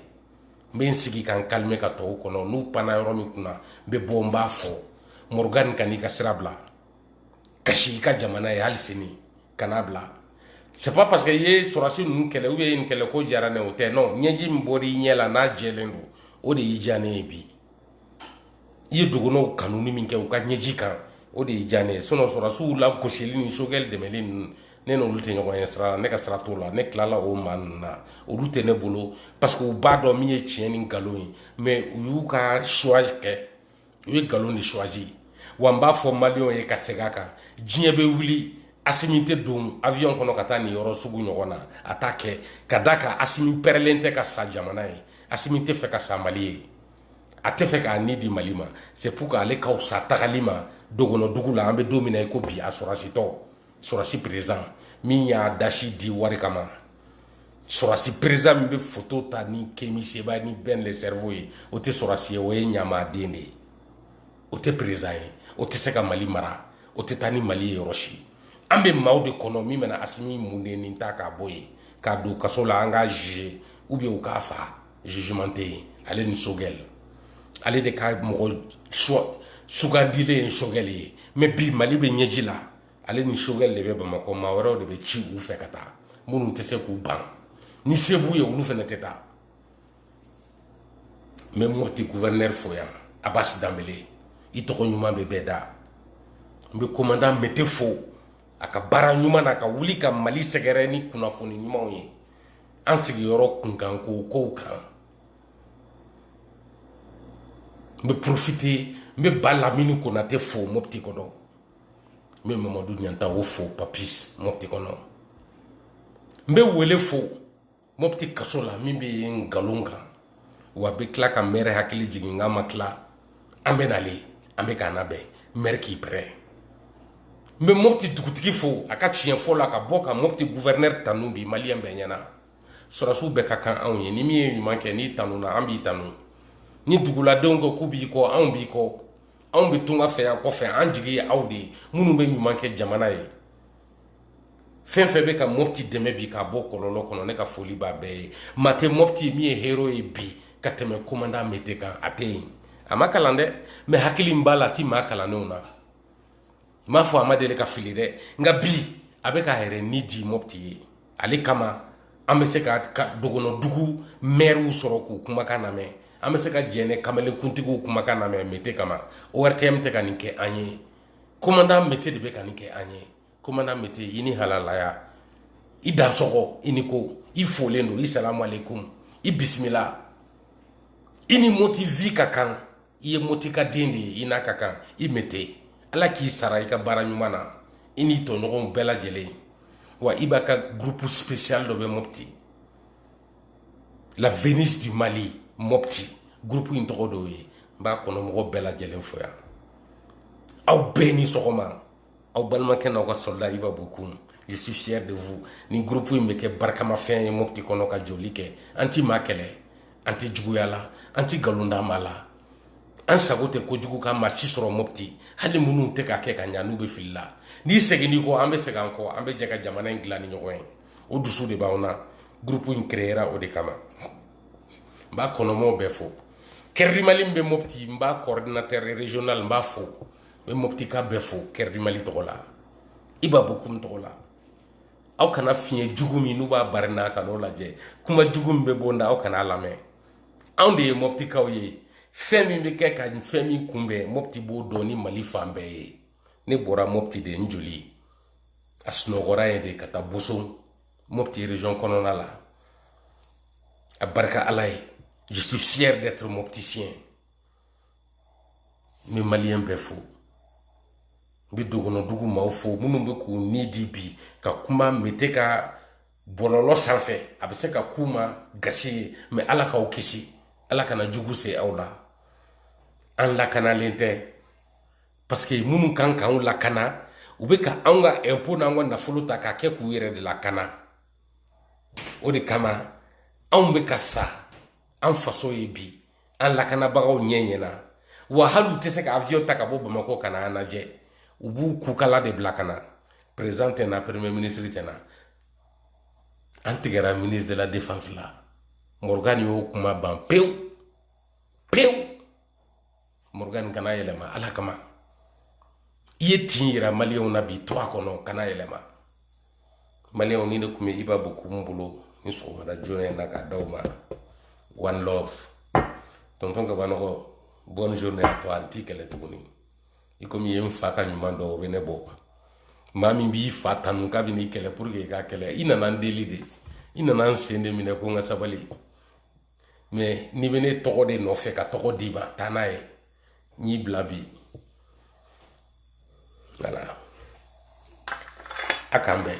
n bɛ n sigi ka n kalime ka tɔw kɔnɔ n'u panna yɔrɔ min kunna n bɛ bɔ n b'a fɔ morgan kan'i ka sira bila kasi i ka jamana ye hali sini kan'a bila c'est pas parce que i ye sɔrɔsi ninnu kɛlɛ ou bien nin kɛlɛ ko diyara ne o tɛ non ɲɛji min bɔra i ɲɛ la n'a jɛlen don o de y'i diya ne ye bi i ye dɔgɔnɔw kanuni min kɛ u ka ɲɛji kan o de y'i diya ne ye sinɔn sɔrɔsiw la gosili ni sogɛli dɛmɛli ninnu ne n'olu tɛ ɲɔgɔn ye sira la ne ka sira t'o la ne tilala o maa ninnu na olu tɛ ne bolo parce que u b'a dɔn min ye tiɲɛ ni nkalon ye mɛ u y'u ka suwa kɛ u ye nkalon de suwazi wa n b'a fɔ maliyɛnw ye ka segin a kan diɲɛ bɛ wuli asimi tɛ don avion kɔnɔ ka taa nin yɔrɔ sugu ɲɔgɔn na a t'a kɛ ka d'a kan asimi pɛrɛlen tɛ ka sa jamana ye asimi tɛ fɛ ka sa mali ye a tɛ fɛ k'a ni di mali ma c'est pour que ale ka wusa tagali ma dogonodugu la an bɛ don min na i ko bi a sɔrɔsitɔ sɔrɔsi perezan min y'a dasi di wari kama sɔrɔsi perezan min bɛ foto ta ni kemi seba ni ben le cerveau ye o tɛ sɔrɔsi ye o ye ɲamaden de ye o tɛ perezan ye o tɛ se ka mali mara o tɛ taa ni mali ye yɔrɔ si an bɛ maaw de kɔnɔ min bɛna asimi mun de nin ta k'a bɔ yen k'a don kaso la an k'a juger ou bien u k'a faga jugement tɛ yen ale ni sogɛli ale de ka mɔgɔ sugandilen ye sogɛli ye mɛ bi mali bɛ ɲɛji la ale ni sogɛli de bɛ bamakɔ maa wɛrɛw de bɛ ci u fɛ ka taa minnu tɛ se k'u ban ni se b'u ye olu fana tɛ taa n bɛ mɔpti guvɛrinɛri fo yan abasi danbele i tɔgɔ ɲuman bɛ bɛɛ da n bɛ komandan mete fo a ka baara ɲuman na ka wuli ka mali sɛgɛrɛ ni kunnafoni ɲumanw ye an sigiyɔrɔ kunkanko kow kan n bɛ porofite n bɛ ba lamini konate fo mopti kɔnɔ n bɛ mamadu ɲantawo fo papis mopti kɔnɔ n bɛ wele fo mopti kaso la min bɛ yen nkalon kan wa bɛ tila ka mɛri hakili jigin k'an ma tila an bɛ na le an bɛ k'an labɛn mɛri k'i pɛrɛ n bɛ mɔpti dugutigi fo a ka tiɲɛ fɔ la ka bɔ ka mɔpti guvɛrnɛri tanu bi maliyɛn bɛɛ ɲɛ na sɔrɔsiw bɛɛ ka kan anw ye ni min ye ɲuman kɛ n'i tanuna an b'i tanu ni duguladenw ko k'u b'i kɔ anw b'i kɔ anw bɛ tunga fɛ yan kɔfɛ an jigi ye aw de ye minnu bɛ ɲuman kɛ jamana ye fɛn fɛn bɛ ka mɔpti dɛmɛ bi k'a bɔ kɔlɔlɔ kɔnɔ ne ka foli b'a bɛɛ ye maa tɛ mɔpti min ye hero ye bi ka tɛmɛ komandan mete kan a tɛ yen a ma kalan dɛ mais hakili min b'a la a ti maa kalannenw na n m'a fɔ a ma deli ka fili dɛ nka bi a bɛ k'a yɛrɛ ni di mɔpti ye ale kama an bɛ se ka dogɔnɔ dugu mɛriw sɔrɔ k'u kumakan lamɛn an bɛ se ka jɛnɛ kamalenkuntigiw kumakan lamɛn mete kama ortm tɛ ka nin kɛ an ye komandan mete de bɛ ka nin kɛ an ye komandan mete i ni halalaya i dansɔgɔ i ni ko i folen don i salamu aleykum i bisimila i ni moti vi ka kan i ye moti ka den de ye i n'a ka kan i mete ala k'i sara i ka baara ɲuman na i n'i tɔɲɔgɔnw bɛɛ lajɛlen wa iba ka gurupu spesiyal dɔ bɛ mopti la venise du mali mopti groupe in tɔgɔ d'o ye n b'a kɔnɔ mɔgɔ bɛɛ lajɛlen fo yan aw bɛɛ ni sɔgɔma aw balimakɛ n'aw ka soldat iba bokoum je suis fier de vous nin groupe in bɛ kɛ barikamafɛn ye mopti kɔnɔ ka joli kɛ an ti maa kɛlɛ an tɛ juguya la an tɛ nkalon da maa la an sago tɛ kojugu ka maa si sɔrɔ mopti hali minnu tɛ k'a kɛ ka ɲa n'u bɛ fili la n'i seginn'i kɔ an bɛ segin an kɔ an bɛ jɛ ka jamana in dilan ni ɲɔgɔn ye o dusu de b'anw na gurupu in kereyera o de kama n b'a kɔnɔmɔgɔw bɛɛ fo cœur du mali min bɛ mopti n b'a kɔridinatɛri regional n b'a fo n bɛ moptika bɛɛ fo cœur du mali tɔgɔ la iba bokoum tɔgɔ la aw kana fiɲɛ jugu min n'u b'a bari n'a kan'o lajɛ kuma jugu min bɛ bɔ n da aw kana a lamɛn anw de ye moptikaw ye fɛn min bɛ kɛ ka fɛn min kunbɛn mopti b'o dɔn ni mali fan bɛɛ ye ne bɔra mopti de n joli a sunɔgɔra yen de ka taa boso mopti region kɔnɔna la a barika ala ye je suis fier d'être mopticien n bɛ maliyɛn bɛɛ fo n bɛ dogonodugu maaw fo minnu bɛ k'u ni di bi ka kuma mete ka bɔlɔlɔ sanfɛ a bɛ se ka k'u ma gasi ye mais ala k'aw kisi ala kana jugu se aw la an lakanalen tɛ parce que minnu kan k'anw lakana u bɛ ka anw ka impôt n'an ka nafolo ta k'a kɛ k'u yɛrɛ de lakana o de kama anw bɛ ka sa an faso ye bi an lakanabagaw ɲɛ ɲɛna wa hali u tɛ se ka avion ta ka bɔ bamakɔ ka na an lajɛ u b'u kukala de bila ka na président tɛ na premier ministre tɛ na an tigɛra ministre de la défense la morgan y'o kuma ban pewu pewu morgan kana yɛlɛma ala kama i ye tin yira maliyɛnw na bi to a kɔnɔ kana yɛlɛma maliyɛnw ni ne tun bɛ iba bokoum bolo ni sɔgɔmada joona in na k'a d'aw ma one love tonton kabanɔgɔ bonne journée à toi an t'i kɛlɛ tuguni i komi i ye n fa ka ɲuman dɔn o bɛ ne bɔ maa min b'i fa tanu k'a bɛ n'i kɛlɛ pour que i k'a kɛlɛ i nana n deli de i nana n sen de minɛ ko n ka sabali mais n'i bɛ ne tɔgɔ de nɔfɛ ka tɔgɔ d'i ma taa n'a ye n y'i bila bi voilà a k'an bɛn